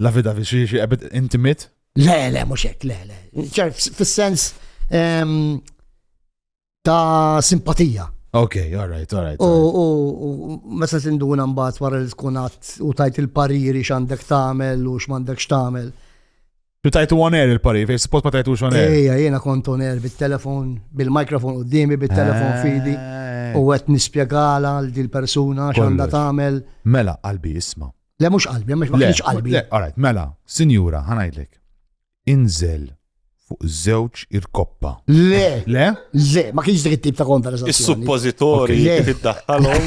La vida fi xi xi ebit intimit? Le, le, mhux hekk, le, le. Ċar fis-sens ehm, ta' simpatija. Ok, all right, all right. U all right. u- u meta tinduna mbagħad wara li tkun għadd u tajt il-pariri x'għandek tagħmel u x'm'għandekx tagħmel. Tu tajtu on air il-pari, fej support ma tajtux on air. Ejja, jiena kont on air bit-telefon, bil-mikrofon qudiemi, Eh. bit-telefon fidi u qed nispjegala għal dil persuna x'għandha Kollox. tagħmel. Mela, qalbi isma. Le mhux qalbi, ma kienx qalbi. Le, all right, mela, sinjura, ħanajdlek. Inżel fuq żewġ irkoppa. Le, le, le, ma kienx dik it-tip ta' konversazzjoni. Is-suppożitorji tiddaħħalhom.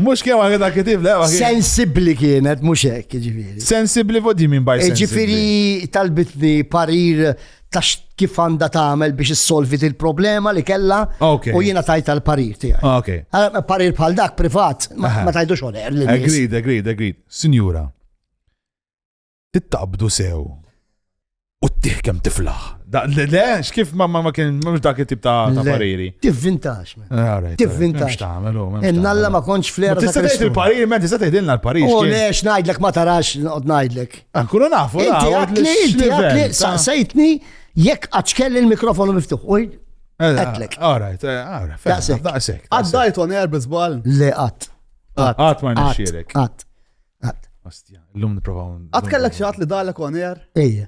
Mux kien għagħed għak kitif, le? Sensibli kienet, mux hekk, ġifiri. Sensibli vodi minn baj. Ġifiri talbitni parir ta' kif għandha tagħmel biex issolvi il problema li kellha u jiena tajt għal parir tiegħi. Ah, Għala parir bħal dak privat ma tajdux oner. Agreed, agreed, agreed. Sinjura, tittaqbdu sew u ttih kemm tiflaħ. Le, x'kif ma ma kien mhux dak it-tip ta' pariri. Tivvintax. Ah, Tivvintax. Innalla ma kontx fl-era. Tista' tgħid il-parir, men tista' tgħidilna l-parir. U oh, le x'ngħidlek ma tarax noqgħod ngħidlek. Ankunu nafu da. Inti għatli, inti għatli, saqsejtni jekk għadxkelli l-mikrofonu miftuħ. Għatlek. Eh, eh, all right, eh, all right. Daqsek. Daqsek. Għaddajt on air bizbal. Le għat. Għat ma nxirek. Għat. Għat. Ostja, l-lum niprofaw. Għat kellek xaħat li dalek on air? Ejja.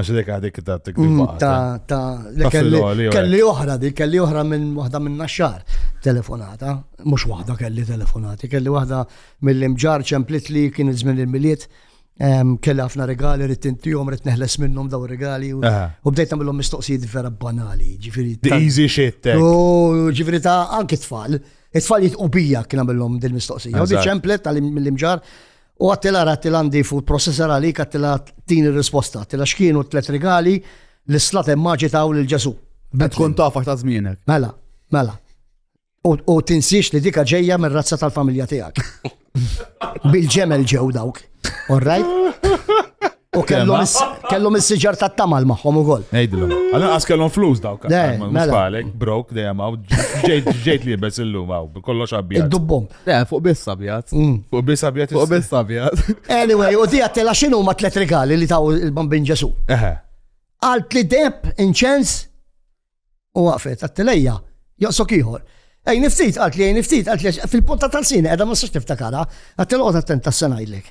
Għax dik għadik ta' t mm, Ta' ta' kelli oħra, di kelli oħra minn waħda minn naxxar telefonata, mux waħda kelli telefonati, kelli waħda mill-imġar ċemplit li kien iż-żmien il-miliet, kelli ħafna regali, rrit intijom, rrit neħles minnum daw regali, u bdejt namillom mistoqsijiet vera banali, ġifiri. The easy shit. Eh. U ġifiri ta' anki tfal, it-tfal jitqubija kien namillom dil-mistoqsija, u di ċemplet tal-imġar, U għattila għattila għandi food processor għalik għattila din il-risposta. Għattila xkienu t-tlet rigali li slat emmaġi taw l-ġesu. Bet kun tafax ta' zmienek. Mela, mela. U tinsiex li dika ġeja mir razza tal-familja tijak. Bil-ġemel ġew dawk. All right? U kellhom is- kellhom is-siġar tat-tamal magħhom ukoll. Ejdilom. Għallan għas kellhom flus dawk. Le, Ma- mela. Mustalek, brok, dejjem għaw. Ġejt, ġejt li bes illum għaw. Kollox għabjad. Id-dubbom. Le, fuq biss abjad. Mm. Fuq bis għabjad. Fuq biss abjad. Anyway, u dija tela xinu ma tlet regali li taw il-bambin Ġesu. Eħe. Għalt li deb, inċens, u għafet, għattilejja, joqsok iħor. Ej, niftit, għalt li ej, niftit, għalt li fil-punta tal-sini, edha ma s-sax niftakara, għattil għod attent tas-senajlek.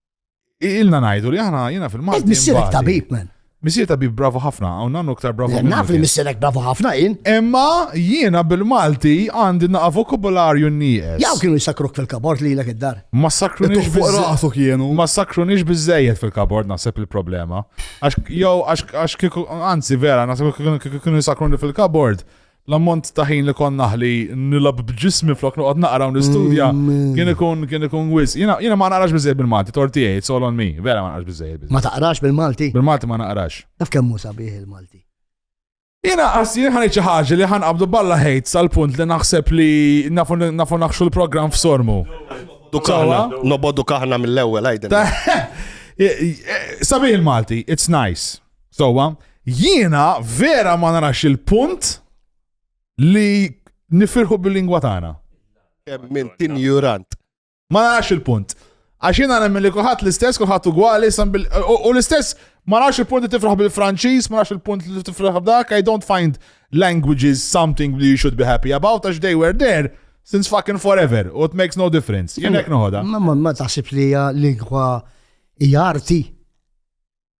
Ilna ngħidu li aħna jiena fil-Malti. Missierek tabib, man. Missier tabib bravo ħafna, hawn nannu ktar bravo. Naf li missierek bravo ħafna jien. Imma jiena bil-Malti għandi naqa' vokabularju nieqes. Jaw kienu jisakruk fil-kabord li lek id-dar. Ma sakrunix fuq rasu kienu. Ma sakrunix biżejjed fil-kabord naħseb il-problema. Għax jew għax kieku anzi vera naħseb kienu jisakruni fil-kabord. L-ammont ta' ħin li kont naħli nilgħab b'ġismi flok noqgħod naqra u nistudja kien ikun kien ikun wis. Jiena jiena ma naqrax biżejjed bil-Malti, torti tiegħi, it's all on me. Vera ma naqrax biżejjed bil Ma taqrax bil-Malti? Bil-Malti ma naqrax. Taf kemm hu sabiħ il-Malti? Jiena qas jien ħanejt xi ħaġa li ħanqabdu balla ħejt sal-punt li naħseb li nafu nafu naħxu l-programm f'sormu. Dukaħna, nobodu kaħna mill-ewwel għajdin. Sabiħ il-Malti, it's nice. Sowa, jiena vera ma narax il-punt li nifirħu bil-lingwa tagħna. Kemm minn tinjurant. Ma narax il-punt. Għax jiena nemmen li kulħadd l-istess, kulħadd ugwali, u l-istess ma narax il-punt li tifraħ bil-Franċiż, ma narax il-punt li tifraħ b'dak, I don't find languages something you should be happy about, għax they were there since fucking forever, u it makes no difference. Jenek noħoda. Ma ma taħsib li hija lingwa hija arti.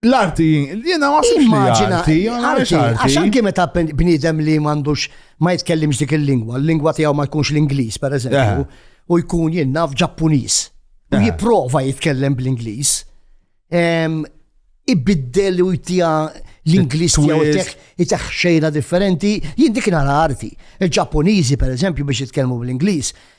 L-arti, jiena ma sibx li arti, għax arti. Għax anki meta bniedem li m'għandux ma jitkellimx dik il-lingwa, l-lingwa tiegħu ma jkunx l-Ingliż pereżempju, u jkun jien naf Ġappuniż. U jipprova jitkellem bl-Ingliż. Ibiddel u jtija l-Ingliż tiegħu jteħ xejna differenti, jien dik nara arti. Il-Ġappuniżi pereżempju biex jitkellmu bl-Ingliż,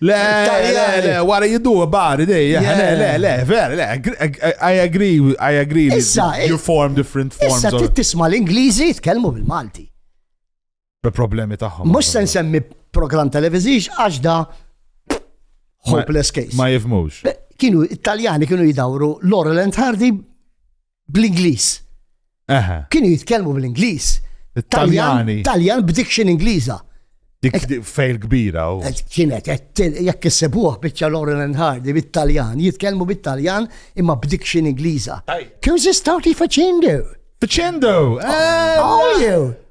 Le, le, le, wara jiddu bari dejja, le, le, le, ver, le, I agree, I agree li you form different forms. Issa trid tisma' l-Ingliżi jitkellmu bil-Malti. Problemi tagħhom. Mhux se nsemmi programm televiżix għax da hopeless case. Ma jifmux. Kienu Italjani kienu jidawru Laurel and Hardy bl-Ingliż. Kienu jitkellmu bl-Ingliż. Taljani. Taljan b'diction Ingliża. Dik fejl kbira. Kienet, jekk issibuħ bieċa Lauren and Hardy bit-Taljan, jitkellmu bit-Taljan imma b'diction Ingliża. Kjoż istawti faċendu? Faċendu! Oh, eh, oh,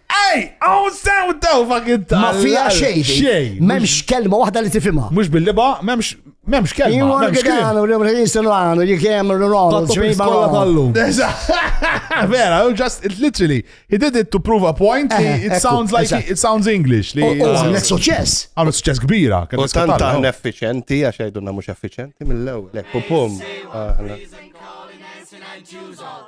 Ej, għaw sew daw fucking tal. Ma fija xejn. Xejn. Memx kelma waħda li tifimha. Mhux bil-liba, memx memx kelma. Jimur Memx kelma. għedanu, li mħin silvanu, jikem r-ronu, ċmin Kolla bħallu. tal-lum. Vera, you just, it literally, he did it to prove a point. li Eh, It ekku, sounds like, eżatt. it sounds English. li- U għamlet suċess. Għamlet suċċess kbira. kien U tant iskattar, aħna no? effiċenti, għax għajdunna mux effiċenti mill-ewel. Ekku pum. Aħna.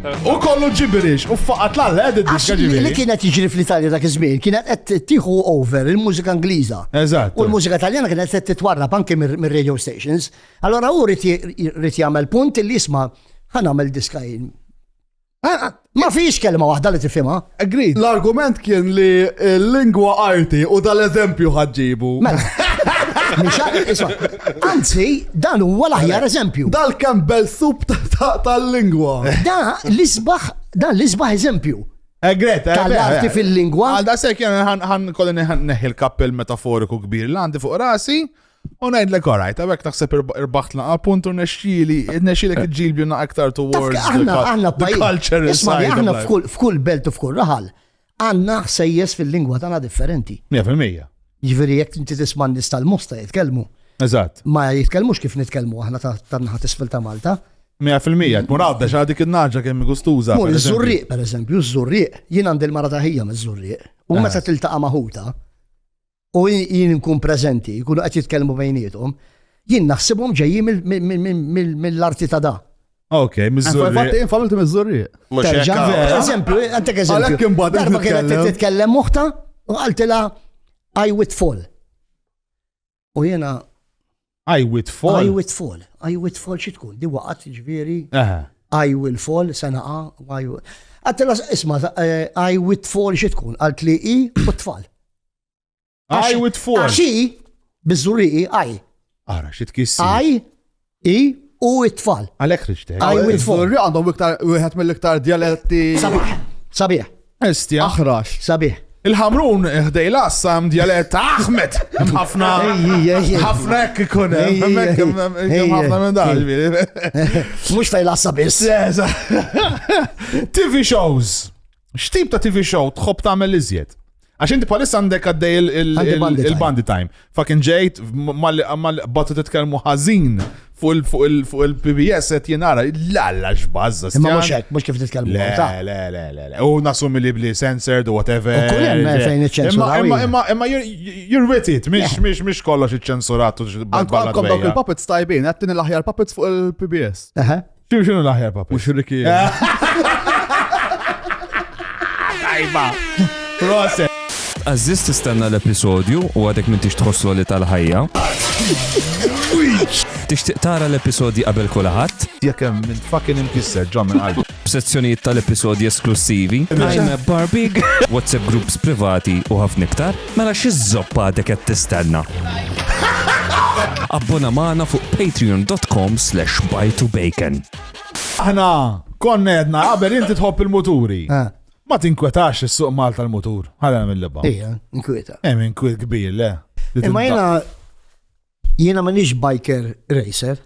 U kollu ġibirix, u faqat l-għalla, għed id-diska ġibirix. Li kienet iġri fl-Italja dak iż-żmien, kienet qed tiħu over il-mużika Ingliża. Eżatt. U l-mużika Taljana kienet qed titwarrab anke mir-radio stations. Allora hu rrid jagħmel punt li jisma' ħan għamel diska jien. Ma fiex kelma waħda li tifhimha. Agreed. L-argument kien li l-lingwa arti u dal-eżempju ħadġibu. Mela. Anzi, dan huwa l-aħjar eżempju. Dal-Campbell soup tal-lingwa. Da l-isbaħ, dan l-isbaħ eżempju. Egret, eh, eh, tal-arti eh, fil-lingwa. Għal da sekk jena ħan kolli neħi l-kappell metaforiku kbir li għandi fuq rasi. U najdlek orajt, għabek naħseb irbaħt laqa punt u nexxili, nexxili kġilbju na aktar towards the culture. Isma, aħna f'kull belt u f'kull raħal, Għandna ħsejjes fil-lingwa tagħna differenti. Mija fil-mija. Jiġifieri jekk inti tisma' n-nies tal-Mosta jitkellmu. Eżatt. Ma jitkellmux kif nitkellmu aħna tan-naħa t'isfel ta' Malta. Mija fil-mija, tmur għadda xa dik in-naġa kemm gustuża. Tmur iż-Żurrieq pereżempju, iż-Żurrieq, jien għandi l-mara ta' ħija miż-Żurrieq. U meta tiltaqa' ma' ħutha, u jien nkun preżenti, jkunu qed jitkellmu bejnietom, jien naħsibhom ġejjin mill-arti ta' da. Ok, mizzurri. Fatt infamilti mizzurri. Mux eżempju, għantek eżempju. Darba kienet titkellem muħta u għaltila I would fall. U jena I with fall. I with fall. I with fall xi tkun, di waqgħet ġifieri. I will fall se naqa' Għattela isma' eh, I with fall xi tkun, għalt li i u tfal. I with fall. Għaxi biżuri i I. Ara xi tkissi. I i u it-tfal. Għalek rixtek. I with fall. Għandhom iktar wieħed mill-iktar dialetti. Sabiħ. Sabiħ. Estja. Aħrax. Sabiħ. Il-ħamrun ħdej l-assa hemm djalett Ahmed. Hemm ħafna ħafna hekk ikun hemm hemm ħafna minn dan. Mhux fejn l-assa biss. TV shows. X'tip ta' TV show tħobb tagħmel iżjed? Għax inti palissa għandek għaddej il-bandi time. Fucking ġejt, malli batu titkellmu ħażin fuq il-PBS qed jenara, l-alla x'bażża. Imma mhux hekk, mhux kif titkellmu. Le, le, le, le, le. U nasumi li bli censored u whatever. U kull hemm fejn iċċensuraw. Imma imma imma you're with it, mhix mhix mhix kollox iċċensurat u Għandkom dawk il-puppets tajbin, qed l-aħjar puppets fuq il-PBS. Xinu xinu l-aħjar papi? Mux Ricky. Tajba. Proset. Aziz tistenna l-episodju u għadek minn tix tħosslu li tal-ħajja. Tixtieq tara l-episodji qabel kulħadd? Jekk hemm minn fucking imkisser ġo minn qalbi. Sezzjonijiet tal-episodji esklussivi. I'm a Barbie. WhatsApp groups privati u ħafna iktar. Mela xi żopp għadek qed tistenna? Abbona magħna fuq patreon.com/bajtubacon. Aħna konna għedna qabel inti tħobb il-muturi. Ah. Ma tinkwetax is-suq Malta l-mutur. Ħalena mill-liba. Ija, inkweta. Hemm inkwet kbir, le. Imma jiena jiena m'għandix biker racer.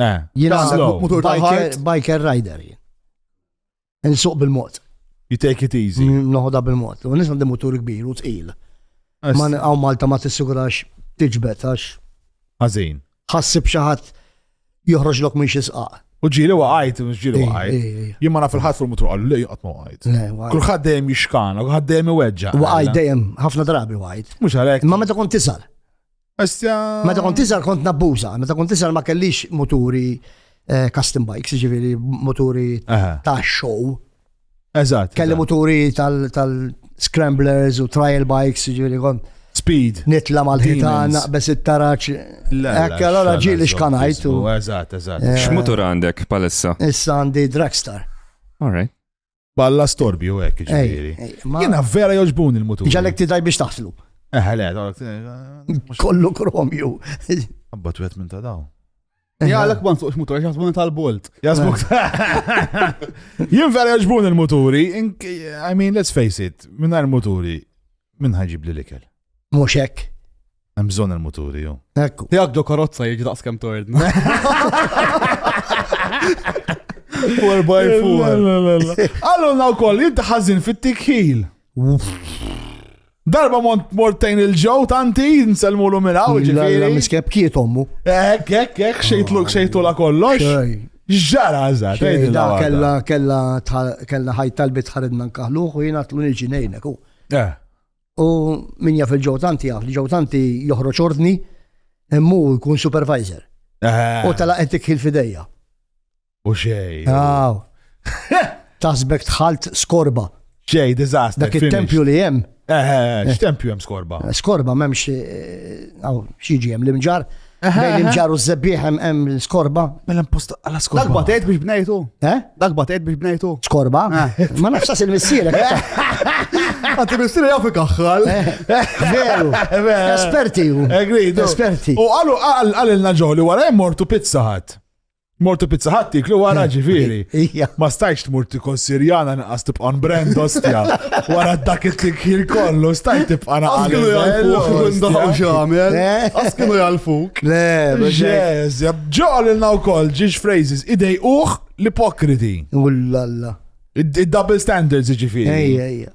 Eh. Jiena mutur biker, biker rider. Nsuq bil-mod. You take it easy. Noħodha bil-mod. U nisma' mutur kbir u tqil. Ma għaw Malta ma tissigurax tiġbed għax. Ħażin. Ħassib xi ħadd joħroġ lok minn xi sqaq. U ġili waqajt, ġili waqajt. Jien ma naf il-ħadd fuq mutur għallu li qatt ma waqajt. Kulħadd dejjem jixkana, kulħadd dejjem iweġġa. Waqajt dejjem ħafna drabi waqajt. Mhux għalhekk. Ma meta kont tisal. Meta kont iżgħar kont nabbuża, meta kont iżgħar ma kellix moturi eh, custom bikes, ġifieri moturi ta' show. Eżatt. Kelli moturi tal-scramblers u trial bikes, ġifieri kont. Speed. Nitla mal-ħitan, naqbes it-taraċ. Ekk, allora ġili xkanajt. Eżatt, eżatt. Eh, X'mutur għandek palissa? Issa għandi Dragstar. All right. Balla storbju hekk ġifieri. Jiena vera joġbuni l-mutur. Ġalek tidaj biex taħslu. Eħle, eh, kollu kromju. Abba twet minn ta' daw. Jgħalek ma nsuqx mutur, jaħsbu tal-bolt. Jaħsbu. Jien vera joġbuni l-muturi, I mean, let's face it, minn muturi, minn ħagġib li l-ikel. Mhux hekk. Hemm bżonn il-muturi jew. Ekku. Jekk do karozza jiġi daqs kemm tord. Four by four. Allura wkoll inti ħażin fit-tikħil. Darba mont mortejn il-ġew tanti nselmu l minn hawn ġifieri. Miskeb kiet ommu. Hekk hekk hekk xejtlu xejtu la kollox. Ġara eżatt. Kella kella kella ħajt talbit ħaridna nkaħluħ u jiena tlu niġi ngħinek. Eh. U min jaf il-ġew tanti jaf, ġew tanti joħroġ ordni, immu jkun supervisor. Eh. U tala qed tikħil fidejja. U xej. Aw. Tasbek tħalt skorba. Xej, diżastru. Dak it-tempju li hemm. Eh, eh, eh x'tempju hemm skorba? Skorba m'hemmx xi ġiem l-imġar. Bejn il-ġar u z-zebbieħ hemm l-skorba. Mela post għala skorba. Dak batejt biex bnejtu. Eh? Dak batejt biex bnejtu. Skorba? Eh. Ma nafx il-missielek. Għanti missieri jafu kaħħal. Eh. Veru. Esperti ju. Esperti. U għalu għalilna ġoli wara jmortu pizza ħadd. Mortu pizza ħadd tiklu wara ġifieri. Ma stajx tmur tikol Sirjana naqas tibqa' on brand ostja. Wara dak it-tikħir kollu stajt tibqa' naqas. Kienu jgħalfuk minn daħu x'għamel. Għas kienu jgħalfuk. Le, ġeż, ġol ilna wkoll ġiex phrases idej uħ l-ipokriti. Ullalla. Id-double standards ġifieri. Ejja, ejja.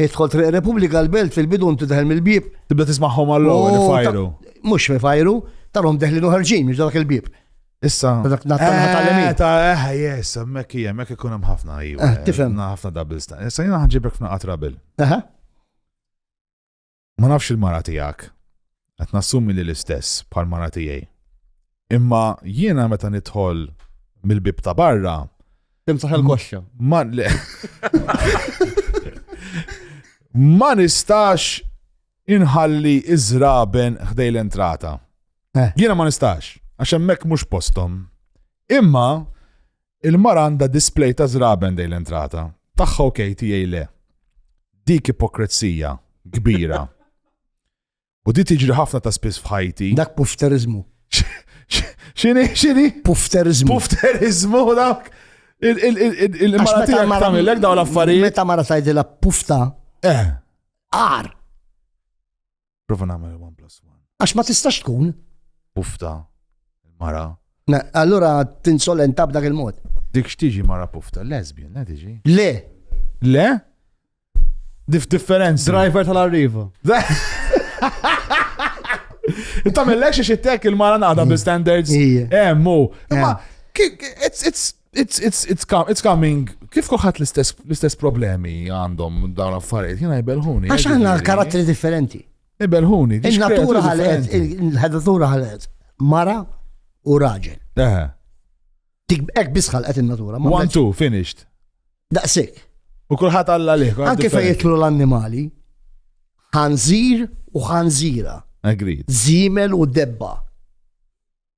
Idħol Triq Repubblika l-Belt fil-bidu inti daħel mill-bieb. Tibda tismagħhom għall-ewwel oh, ifajru. Mhux ifajru, tarhom deħlin u ħarġin mhux dak il-bieb. Issa. Dak natalemi. Eh, ta' eh, eh, yes, hemmhekk hija, hemmhekk ikun hemm ħafna ħafna double stand. Issa jiena ħanġibek f'naqat rabel. Aha. Ma nafx il-mara tiegħek, qed nassumi li l-istess bħal mara tiegħi. Imma jiena meta nidħol mill-bib ta' barra. Timsaħ il-koxxa. Ma le. ma nistax inħalli iżraben ħdej l-entrata. Eh. Jiena ma nistax, għax hemmhekk mhux postom. Imma Il-mara għandha display ta' żraben dej l-entrata. Tagħha ok, tiegħi le. Dik ipokrezija kbira. U di tiġri ħafna ta' spiss f'ħajti. Dak pufterizmu. Xini, xini? Pufterizmu. Pufterizmu dak. Il-mara tiegħek tagħmilek dawn l-affarijiet. Meta mara tgħidilha pufta. Eh. Ar. Prova nagħmel one plus one. Għax ma tistax tkun. Pufta, il-mara. Allura tinsolenta b'dak il-mod. Dik x'tiġi mara pufta, lesbian, le tiġi? Le. Le? Dif differenza. Driver tal-arriva. Inta mill-lex xittek il-mara naqda bi standards. Ija. Emmu. Eh, eh. Imma, it's, it's, It's, it's, it's, com it's coming. Kif kuħat l-istess problemi għandhom dawn affarijiet, jena jibelħuni. Għax għanna karatteri differenti. Ibelħuni. Il-natura ħalet, il-ħedatura ħalet. Mara u raġel. Eħe. Tik ek bisħal għet il-natura. One, two, finished. Daqsik. U kullħat għalla liħ. Anke fej jitlu l-annimali, ħanżir u ħanżira. Agreed. Zimel u debba.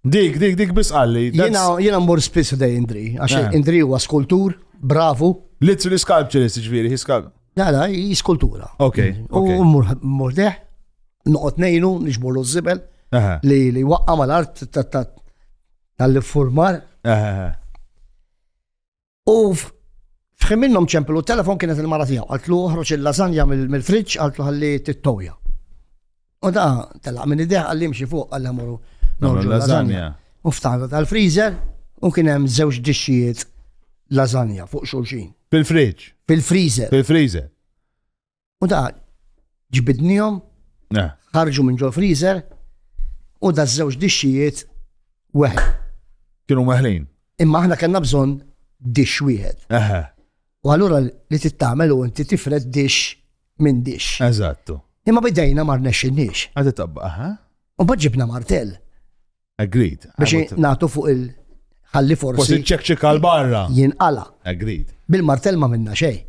Dik, dik, dik biss qalli. Jiena mmur spiss f'dej Indri, għax eh. Indri huwa skultur, bravu. Literally sculpturist, ġviri, hi skulptur. La, la, hi skultura. Ok. U mmur deħ, noqgħod nejnu, nixbolu z-zibel, li li waqqa mal-art tal-formar. U fħin minnhom ċemplu telefon kienet il-mara tiegħu, qaltlu uħroċ il-lasanja mill-friġġ, qaltlu ħalli tittoja. U da telaq minn idea għalli mxi fuq għalli għamuru norġu lasanja. U ftaħdu tal-freezer u kien hemm żewġ dixxijiet lasanja fuq xulxin. Fil-friġġ. Fil-freezer. Fil-freezer. U da ġbidnihom, ħarġu minn ġol freezer u da żewġ dixxijiet weħ. Kienu meħlin. Imma aħna kellna bżonn dix wieħed. U allura li tittamel u inti tifred dix minn dix. Eżattu. Imma bidejna mar nexxinniex. Għadi tabba, aha. U bħadġibna martell. Agreed. Biex nagħtu fuq il- ħalli forsi. Forsi ċekċika l-barra. Jinqala. Agreed. Bil-martell ma minna xej.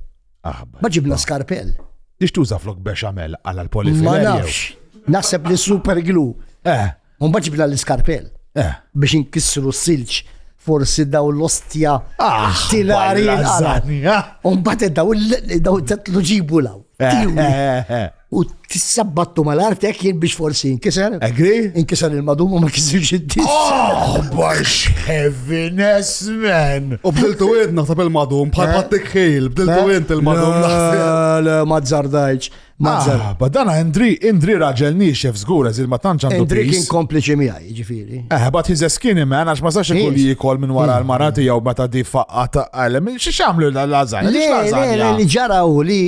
Aħba. Ma ġibna skarpell. Ix tuża flok beċamel għala l-polifi. Ma nafx. Naħseb li super glu. Eh. Un ġibna l-skarpell. Eh. Biex inkissru s-silġ forsi daw l-ostja ah, tilari l-għazani. Ah. Un bat daw l-tetlu ġibu law. Eh, eh, U t-sabbattu mal-artek jien biex forsi inkiser. Agri? Inkiser il-madum u ma kisirx id-dis. Oh, bax heaviness, man! U bdiltu id naħseb il-madum, bħal eh? ħattik ħil, bdiltu eh? int il-madum naħseb. Le, ma zzardajċ. Ah, ba dan Indri, Indri raġel nixef zgur, eżil ma tantx għandu. Indri kien kompliċi miħaj, ġifiri. Eh, bat he's a skinny man, għax ma sax ikun jikol minn wara hmm. l-marati jew meta di faqqata għalem, xie xamlu l-lazan? Le, le, li ġaraw li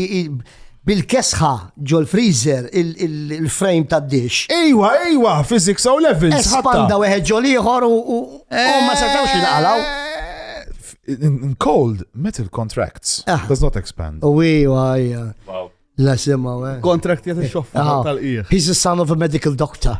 Bil-kesħa ġol-freezer il-frame tad-dixx. Ejwa, ejwa, physics O levels. Espanda weħed ġol ieħor u ma setgħux jinqalgħu. In cold, metal contracts ah. does not expand. U ejwa, ejwa. La sema, we. Contract jgħat il-xoffa tal-qiegħ. He's a son of a medical doctor.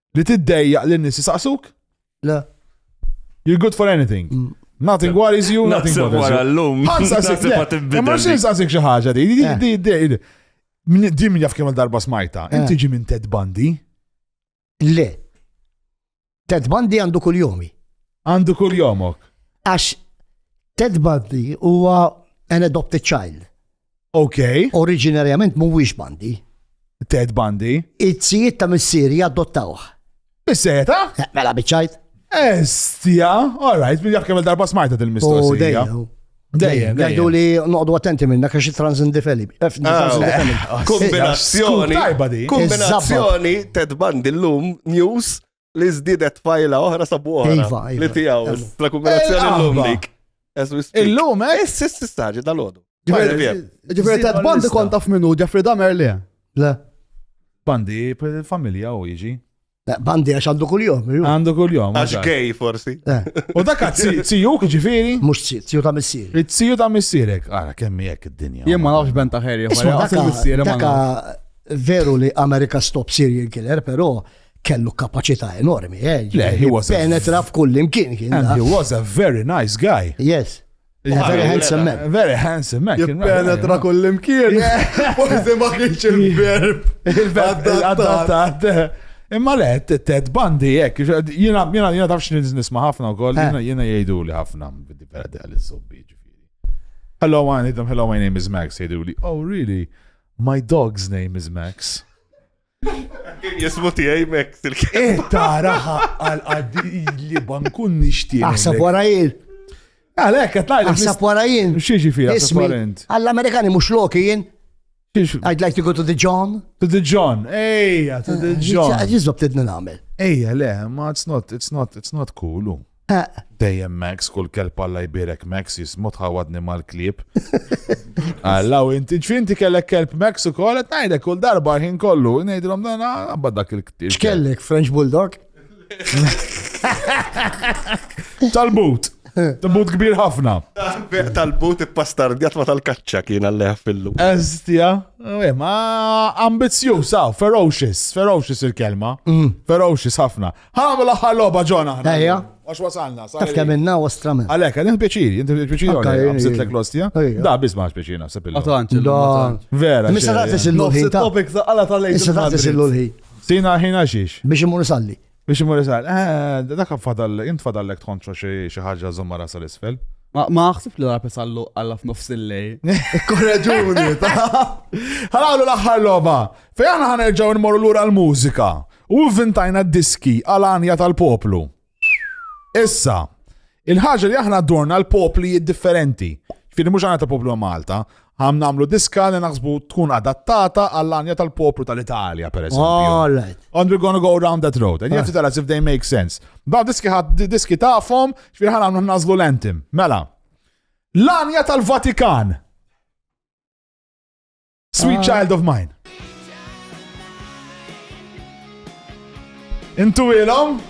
Li tiddejjaq li n-nies jisaqsuk? Le. You're good for anything. Mm. Nothing worries you, nothing bothers you. Għallum. Imma xie nsaqsik xi ħaġa di, di, di, di. Di min jaf kemm darba smajta. Eh. Inti ġi minn Ted Bundy? Le. Ted Bundy għandu kull jomi. Għandu kull jomok. Għax Ted Bundy huwa an adopted child. Ok. Oriġinarjament mhuwiex bandi. Ted Bandi. It-sijiet ta' missieri adottawh. Is-sejta? Eh, Mela biċċajt. Estja, all right, minn jaf kemm darba smajta U dil-mistoqsija. dejjem. Dejjem, Għajdu dejjem. li noqdu attenti minna kaxi transindifeli. Kombinazzjoni. Scoop tajba di. Kombinazzjoni Ted Bandi l-lum news li żdiedet fajla oħra sabu oħra. Iva, iva. Li tiegħu. La kumulazzjoni llum dik. Illum, eh? Is-siss istaġi dal-għodu. Ġifieri ta' bandi kont taf minnu Jeffrey Dahmer le. Le. Bandi familja u jiġi. Eh, bandi għax għandu kull-jom. Għandu kull-jom. Għax gej forsi. Eh. U dak tziju ġifiri? Mux tziju ta' missir. Tziju ta' missirek. Għara kemmi jek id-dinja. Jien ma nafx ben ta' ħerja. Veru li Amerika stop serial killer, pero kellu kapaċità enormi, eh? Le, he was a- Penetra f'kull imkien kien. And he was a very nice guy. Yes. Yeah, very handsome man. Very handsome man. kien right, Jippenetra yeah. kull imkien. Forse ma kienx il-verb. Il-verb adattat. Imma le, t- Ted Bundy, jek, jina, jina, jina tafx nil- nisma ħafna u koll, Eh. jina, jina jajdu li ħafna, biddi perdi għal il-sobbi ġifiri. Hello, I need them, hello, my name is Max, jajdu li, oh really, my dog's name is Max. Kien jismu tiegħi mek il-kelma. Eh, taraħa għal għadili bankun nixtieq. Aħseb wara jien. Għalek, qed ngħid. Aħseb wara jien. Xieġi fija, ismi. Għall-Amerikani mhux loki jien. I'd like to go to the John. To the John, ejja, to the eh, John. Jizzob tidna namel. Ejja, le, ma it's not, it's not, it's not cool. Eq. Dejjem Max, kull kelb Alla jbierek Max, jismu tħawadni mal-klieb. Alla, u inti ġfinti kellek kelb Max u kolet, najdek kull darba ħin kollu, najdilom dan għabba dak il-ktib. X'kellek, French Bulldog? Tal-but. Tal-but kbir ħafna. Tal-but i-pastardjat ma tal-kaċċa kien għalleħ fillu. Estja, eh, ma ambizju, sa, ferocious, ferocious il-kelma. Mm. Ferocious ħafna. Għamlu l-aħħar logħba ġona ħna. Ejja. Għax wasalna. Taf kemm minna u stramen. Għalek, għalek pieċiri, inti pieċiri Ok, għalek, għamsit ejja. l klostja Ejja. Da, biz maħx pieċiri naħseb il Għatanċ, Da. Vera. Missa xejn. taqtis il-lul Nofs ħin ta. il-topic ta' għala ta' lejn. Issa taqtis il-lul ħin. Sina ħina xiex. Biex imur salli. Biex imur isal, eh, dak fadal, int fadallek tħonċo xi xi ħaġa zommara sal-isfel. Ma ma ħsib li rapis għallu għalla f'nofs il-lej. Korreġuni, ta' Ħalawlu l-aħħar logħba. Fejn aħna ħanerġgħu nmorru lura l-mużika. U vvintajna d-diski għal għanja tal-poplu. Issa, il-ħaġa li aħna dorna l-popli differenti. Fini mhux għanja tal-poplu Malta, għam namlu diska li naħsbu tkun adattata għall-għanja tal-poplu tal-Italja, per eżempju. All right. And we're gonna go around that road. And you have to tell us if they make sense. Da diski ħad diski tafhom, xfir ħan għamlu nażlu l-entim. Mela, l-għanja tal-Vatikan. Sweet ah. Child of Mine. Intu ilom?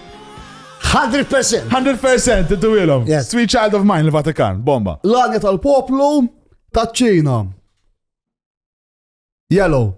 100%. 100% intu ilom. Yes. Sweet Child of Mine il-Vatikan, bomba. L-għanja tal-poplu taċ-ċina. Yellow.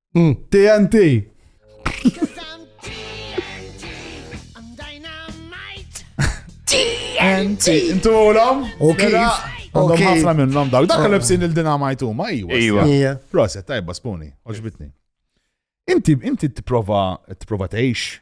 TNT! TNT! Intu għolam? Ok. Għandhom ħafna minnom daw. Dak oh. l-ebsin il-dinamajt huma, iwa. Iwa. Proset, tajba spuni, oġbitni. Inti, inti t-prova, t-prova t-eħx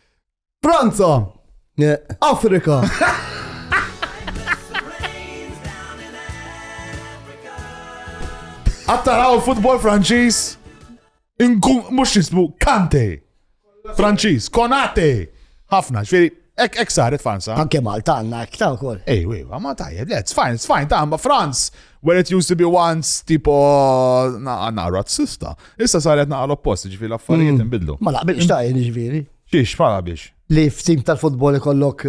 Franza! Afrika! Attaraw il-futbol Franċiż. Inkun mhux jisbu Kante. Franċiż, Konate. Ħafna, ġifieri ek ek saret Franza. Anke Malta għandna ekta wkoll. Ej, ej, ma tajjeb, le, it's fine, it's fine, ta' ma Franz, Where it used to be once, tipo, naqqa razzista. Issa saret naqqa l-oppost, ġifiri l-affarijiet mm. nbidlu. Ma laqbilx ta' ġifiri. Xiex, ma laqbilx. Li f'tim tal-futbol ikollok.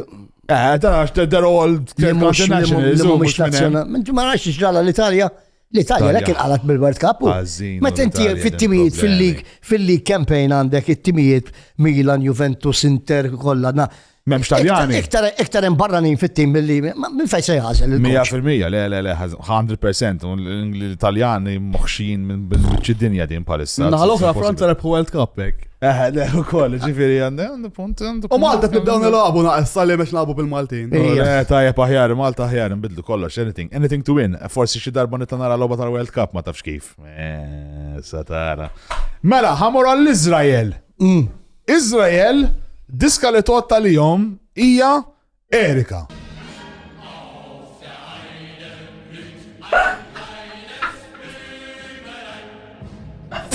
Eh, ta' għax they're all internationals. Ma għax ġrala l-Italja. L-Italja l kien għalat bil-World Cup. Meta inti fit-timijiet fil-lig, fil-lig campaign għandek it-timijiet Milan, Juventus, Inter, kollha Memx Taljani. Iktar hemm barranin fit-tim billi minn fejn se jażel il 100% le le le 100% l-Italjani moħxin minn biċċi dinja din palissa. Naħal oħra Franza rebħu World Cup hekk. Eh, le ukoll, ġifieri għandu punt għandu. U Malta tibdew nilagħbu naqas sali biex lagħbu bil-Maltin. Eh, tajjeb aħjar, Malta aħjar nbidlu kollox, anything, anything to win. Forsi xi darba nitla' nara logħba tal-World Cup ma tafx kif. Eh, satara. Mela, ħamor għall-Iżrael. Iżrael, diska li tgħodd għalihom hija Erika.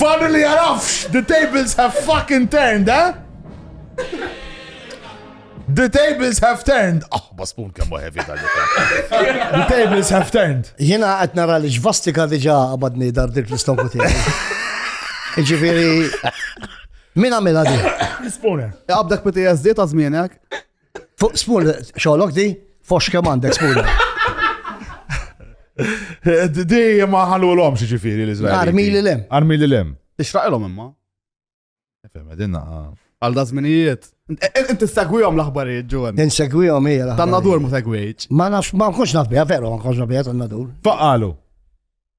Fadli li jarafx, the tables have fucking turned, eh? The tables have turned! Ah, basbun kemm heavy dan The tables have turned. Jena qed nara li ġvastika diġà qabadni dar dik l-istoku tiegħi. Ġifieri min għamilha di? Spooner. Qabdak PTSD ta' żmienek. Fuq spooner, xogħolok di? Fox kemm għandek spooner. Di ma ħallu l-om xieġifiri l-Izrael. Armi li l-em. Armi li l-em. Ixraqilom imma. Fem, għedinna. Għal da zminijiet. Inti segwijom l-aħbarijiet ġuwen. Insegwijom hija l-aħbarijiet. Tan-nadur ma segwijċ. Ma nafx, ma nkunx naf bija, veru ma nkunx naf bija tan-nadur. Faqalu.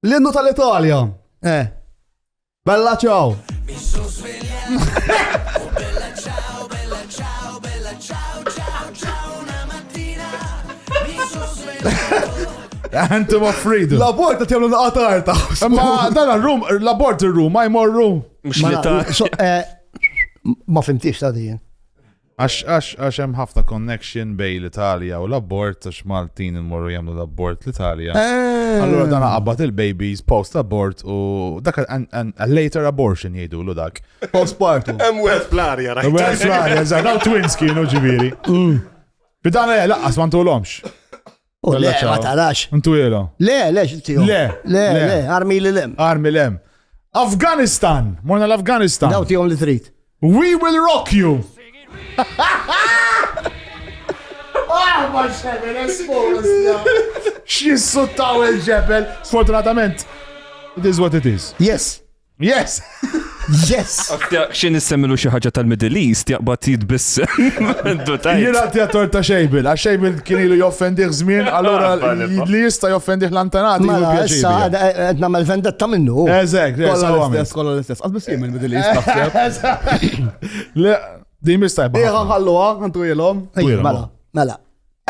L-innu tal-Italja. Eh. Bella ċaw. Anthem of Freedom. L-abort għat jamlu naqatar ta' Ma dan l-rum, l-abort il-rum, ma jmorru. Mux li ta' eh, ma fimtix ta' din. Għax, għax, għax hemm ħafna connection bej l-Italja u l-abort, għax Maltin immorru jagħmlu l-abort l-Italja. Eh. Allura dan qabad il-babies post abort u dak a later abortion jgħidu l dak. Post partu. Hemm wieħed fl-arja, rajt. Wieħed fl-arja, żgħar, twins kienu ġifieri. Mm. Bidan eh, laqqas ma ntulhomx. U le, Bella ma ciao. tarax. Intu jela. Le, le, xintiju. Le, le, le. le, armi li lem. Armi lem. Afganistan. Morna l-Afganistan. Daw tijom li trid. We will rock you. Ah, ma xebel, espolos. X'jissuttaw il-ġebel, sfortunatament. It is what it is. Yes. Yes! Yes! Xin nissemilu xi ħaġa tal-Middle East jaqbad jitbiss. Jien għati għator ta' xejbil, għax xejbil kien ilu joffendiħ żmien, allora li jista' joffendiħ l-antanati. Ma mela, issa qed nagħmel vendetta minnu. Eżek, kollha l-istess, kollha l-istess. Qas biss jien middle East. Le, di mistajba. Iħa ħalluha, għantu jilhom. Mela, mela.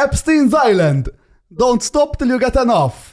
Epstein's Island. Don't stop till you get enough.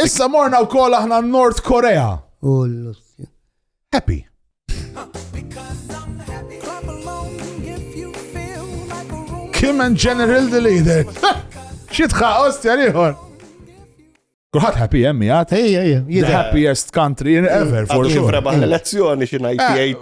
Issa morna wkoll aħna n-Nord Korea. U l-Russja. Happy. Kim and General the Leader. Xitħa, ostja liħor. Kulħat happy jemmi għat. Ejja, ejja. The happiest country in ever, for sure. Kif rebaħ l-elezzjoni xinajt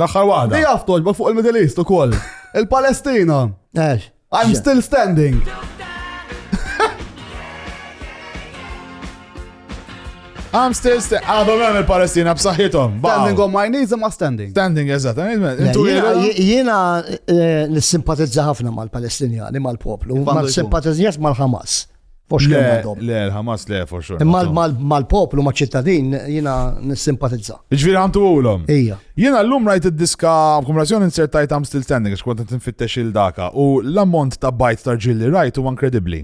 L-aħħar waħda. Di jaf toġba fuq il-Middle East ukoll. Il-Palestina. Ex. I'm still standing. I'm still standing. Għadhom hemm il-Palestina b'saħħithom. Standing on my knees imma standing. Standing, eżatt. Jiena eh, nissimpatizza ħafna mal-Palestinjani, mal-poplu, ma nissimpatizzax mal-Hamas. Fos kemm għandhom. Le, l-Hamas le, for sure. Imma mal-poplu, ma' ċittadin, jina nissimpatizza. Ġviri għantu għulom. Ija. Jina l-lum rajt id-diska kumulazzjoni insertajt għam still standing, xkont nfittex il-daka, u l-ammont ta' bajt ta' ġilli rajt u inkredibli.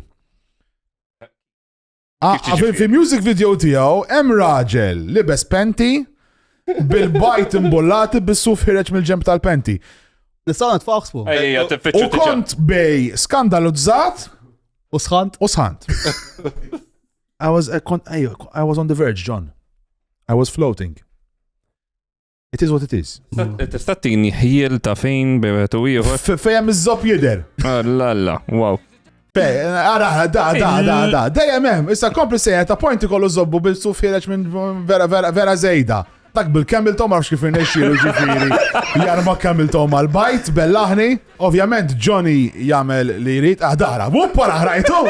Ah, ah, fi music video tijaw, em raġel, libes penti, bil-bajt imbollati bis-suf ħireċ mill-ġemp tal-penti. Nistaw nitfaħsbu. U kont bej skandalizzat U sħant? U sħant. I was, I, I was on the verge, John. I was floating. It is what it is. Tista' tini ħjiel ta' fejn bebet u ieħor. Fejn iż-żob jidher. Alla alla, wow. Ara, da, da, da, da, dejjem hemm, issa kompli sejja ta' pointi kollu żobbu bil-suf ħireġ minn vera vera vera żejda. Dak bil-camel toe ma nafx kif irnexxielu ġifieri jarma camel toe mal-bajt bellaħni. Ovvjament Johnny jagħmel li jrid ah dara, wupp wara ħrajtu.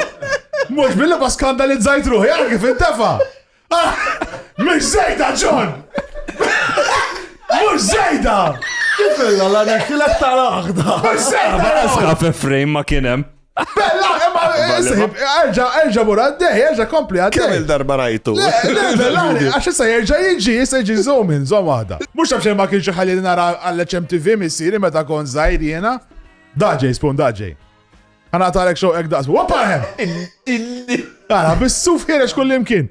Mhux billi ma skandalizzajt ruħi għal kif intefa'. Ah, mhux żejda John! Mhux żejda! Kif illa la nixtilek tal-aħda. Mhux żejda! Għasqa fi frame ma kien hemm. Bella, imma isib, erġa, erġa mur għaddej, erġa kompli għaddej. Kemm il-darba rajtu. Għax issa jerġa jiġi, issa jiġi zoom in, zoom għada. Mux tafx ma kienx ħalli nara għall-HMTV missiri meta kon zaħir jena. Daġej, spun daġej. Għana tarek xow ek daqsu. Wappa hemm! Għana, bissuf ħirex kullimkien.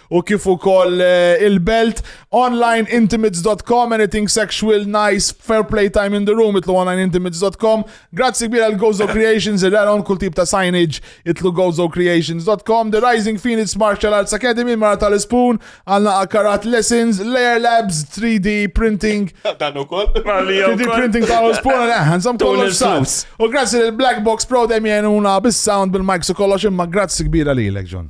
u kif ukoll eh, il-belt online intimates.com anything sexual nice fair play time in the room itlu online intimates.com grazzi kbira l Gozo Creations il għalon kull tip ta' signage itlu Gozo Creations.com The Rising Phoenix Martial Arts Academy mara tal-spoon għalna akarat lessons layer labs 3D printing dan ukoll 3D printing tal-spoon għanżam eh, kollox u grazzi l-Black Box Pro dem jenuna bis-sound bil-mic su kollox imma grazzi kbira li l-ek John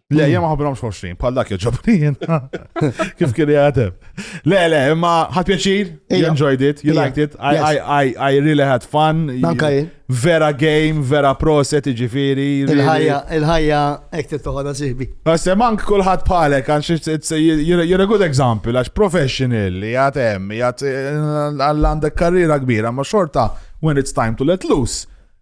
Le, jem ħabrom xoxrin, bħal dak joġobrin. Kif kien jgħatem. Le, le, imma ħat pjaċir, you enjoyed it, you liked it, I, I, I, I really had fun. Vera game, vera proset, ġifiri. Il-ħajja, il-ħajja, ekti toħoda siħbi. Għasse mank kullħat bħalek, għax you're a good example, għax professional, jgħatem, jgħat eh, għall-għandek karriera kbira, ma xorta, when it's time to let loose.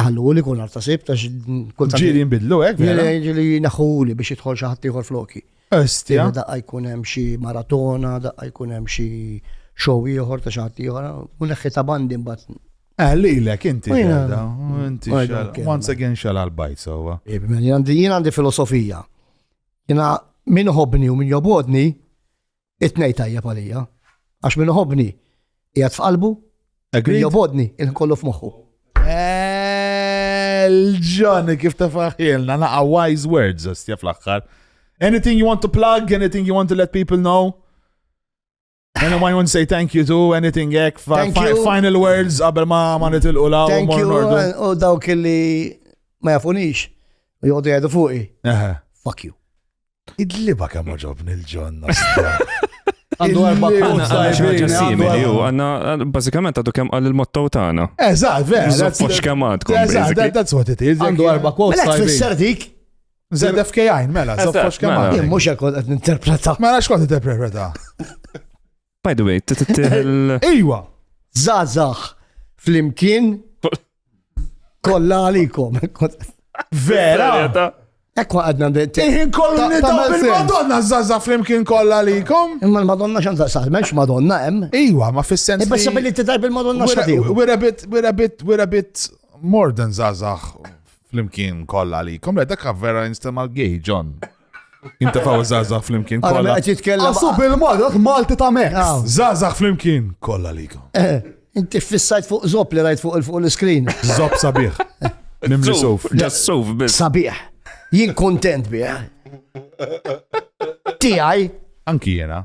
Għallu li kun arta sib, tax kultant. Ġiri jimbidlu, ek? Ġiri naħuli biex jitħol xaħat liħor floki. Estja. Daqqa jkun hemm xi maratona, daqqa jkun hemm xi show ieħor ta' xaħat ieħor, u neħħi ta' bandi mbagħad. Eh, li lek inti da, inti once again xal għal-bajt sowa. Jien għandi filosofija. Jina min ħobni u min jobodni, It-tnej tajjeb għalija. Għax minn uħobni, jgħat f'qalbu, jobodni, il-kollu f'moħħu. Ġoni, kif ta' faħilna, naqa wise words, ostja fl-axħar. Anything you want to plug, anything you want to let people know? Anyone you want to say thank you to, anything ek, final words, qabel ma ma nitilqu la u mor nordu. U dawk li ma jafunix, u jgħodu jgħadu fuqi. Fuck you. Id-liba kemm oġobni l-ġon nostra. Għandu erba' punt sajbin. Simili, u għanna, bazzikament għadu kem għal il-motto tagħna. Eżatt, vera. Zoppux kem għadkom. Eżatt, that's what it is. Għandu erba' punt sajbin. Mela tfisser dik. ZFKI, mela, zoppux kem għadkom. Mux għakod għed interpreta. Mela xkod interpreta. By the way, t-tiħil. Iwa, zazax fl-imkien kolla għalikom. Vera! Ekwa għadna bint. Iħin kollu nidaw bil-Madonna zaza flimkien kolla likom. Imma l-Madonna xan zaza, menx Madonna em. Iwa, ma fis-sens. Ibba sabili t-tar bil-Madonna xati. We're a bit, we're a bit, we're a bit more than zaza flimkien kolla likom. Le, dakka vera instem għal-gay, John. Jintafaw zazax flimkien. Għala kolla. għet jitkellem. Għasu bil-marok Malti ta' Mex. Aw. Zazax flimkien. Kolla likom. Eh, Inti fissajt fuq zop li rajt fuq il- fuq l-screen. Zob sabiħ. Mimli suf. Just suf biss. Sabiħ. Jien kontent bih. Tijaj. Anki jena.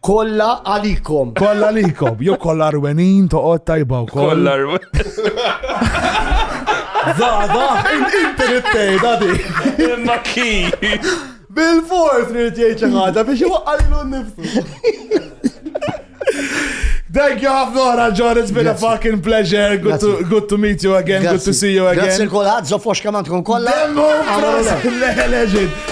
Kolla għalikom. Kolla għalikom. Jo kolla rwenin toqgħod tajba u kolla. Zada, inti nittej, dadi. Imma ki. Bil-fors rrit jgħid xi ħaġa biex iwaqqalilu nnifsu. Thank you ħafna ora, John. It's been a fucking pleasure. Good to, good to meet you again. Good to see you again. Grazie kolħad, zofox kaman tkun kolla. Demmu, legend.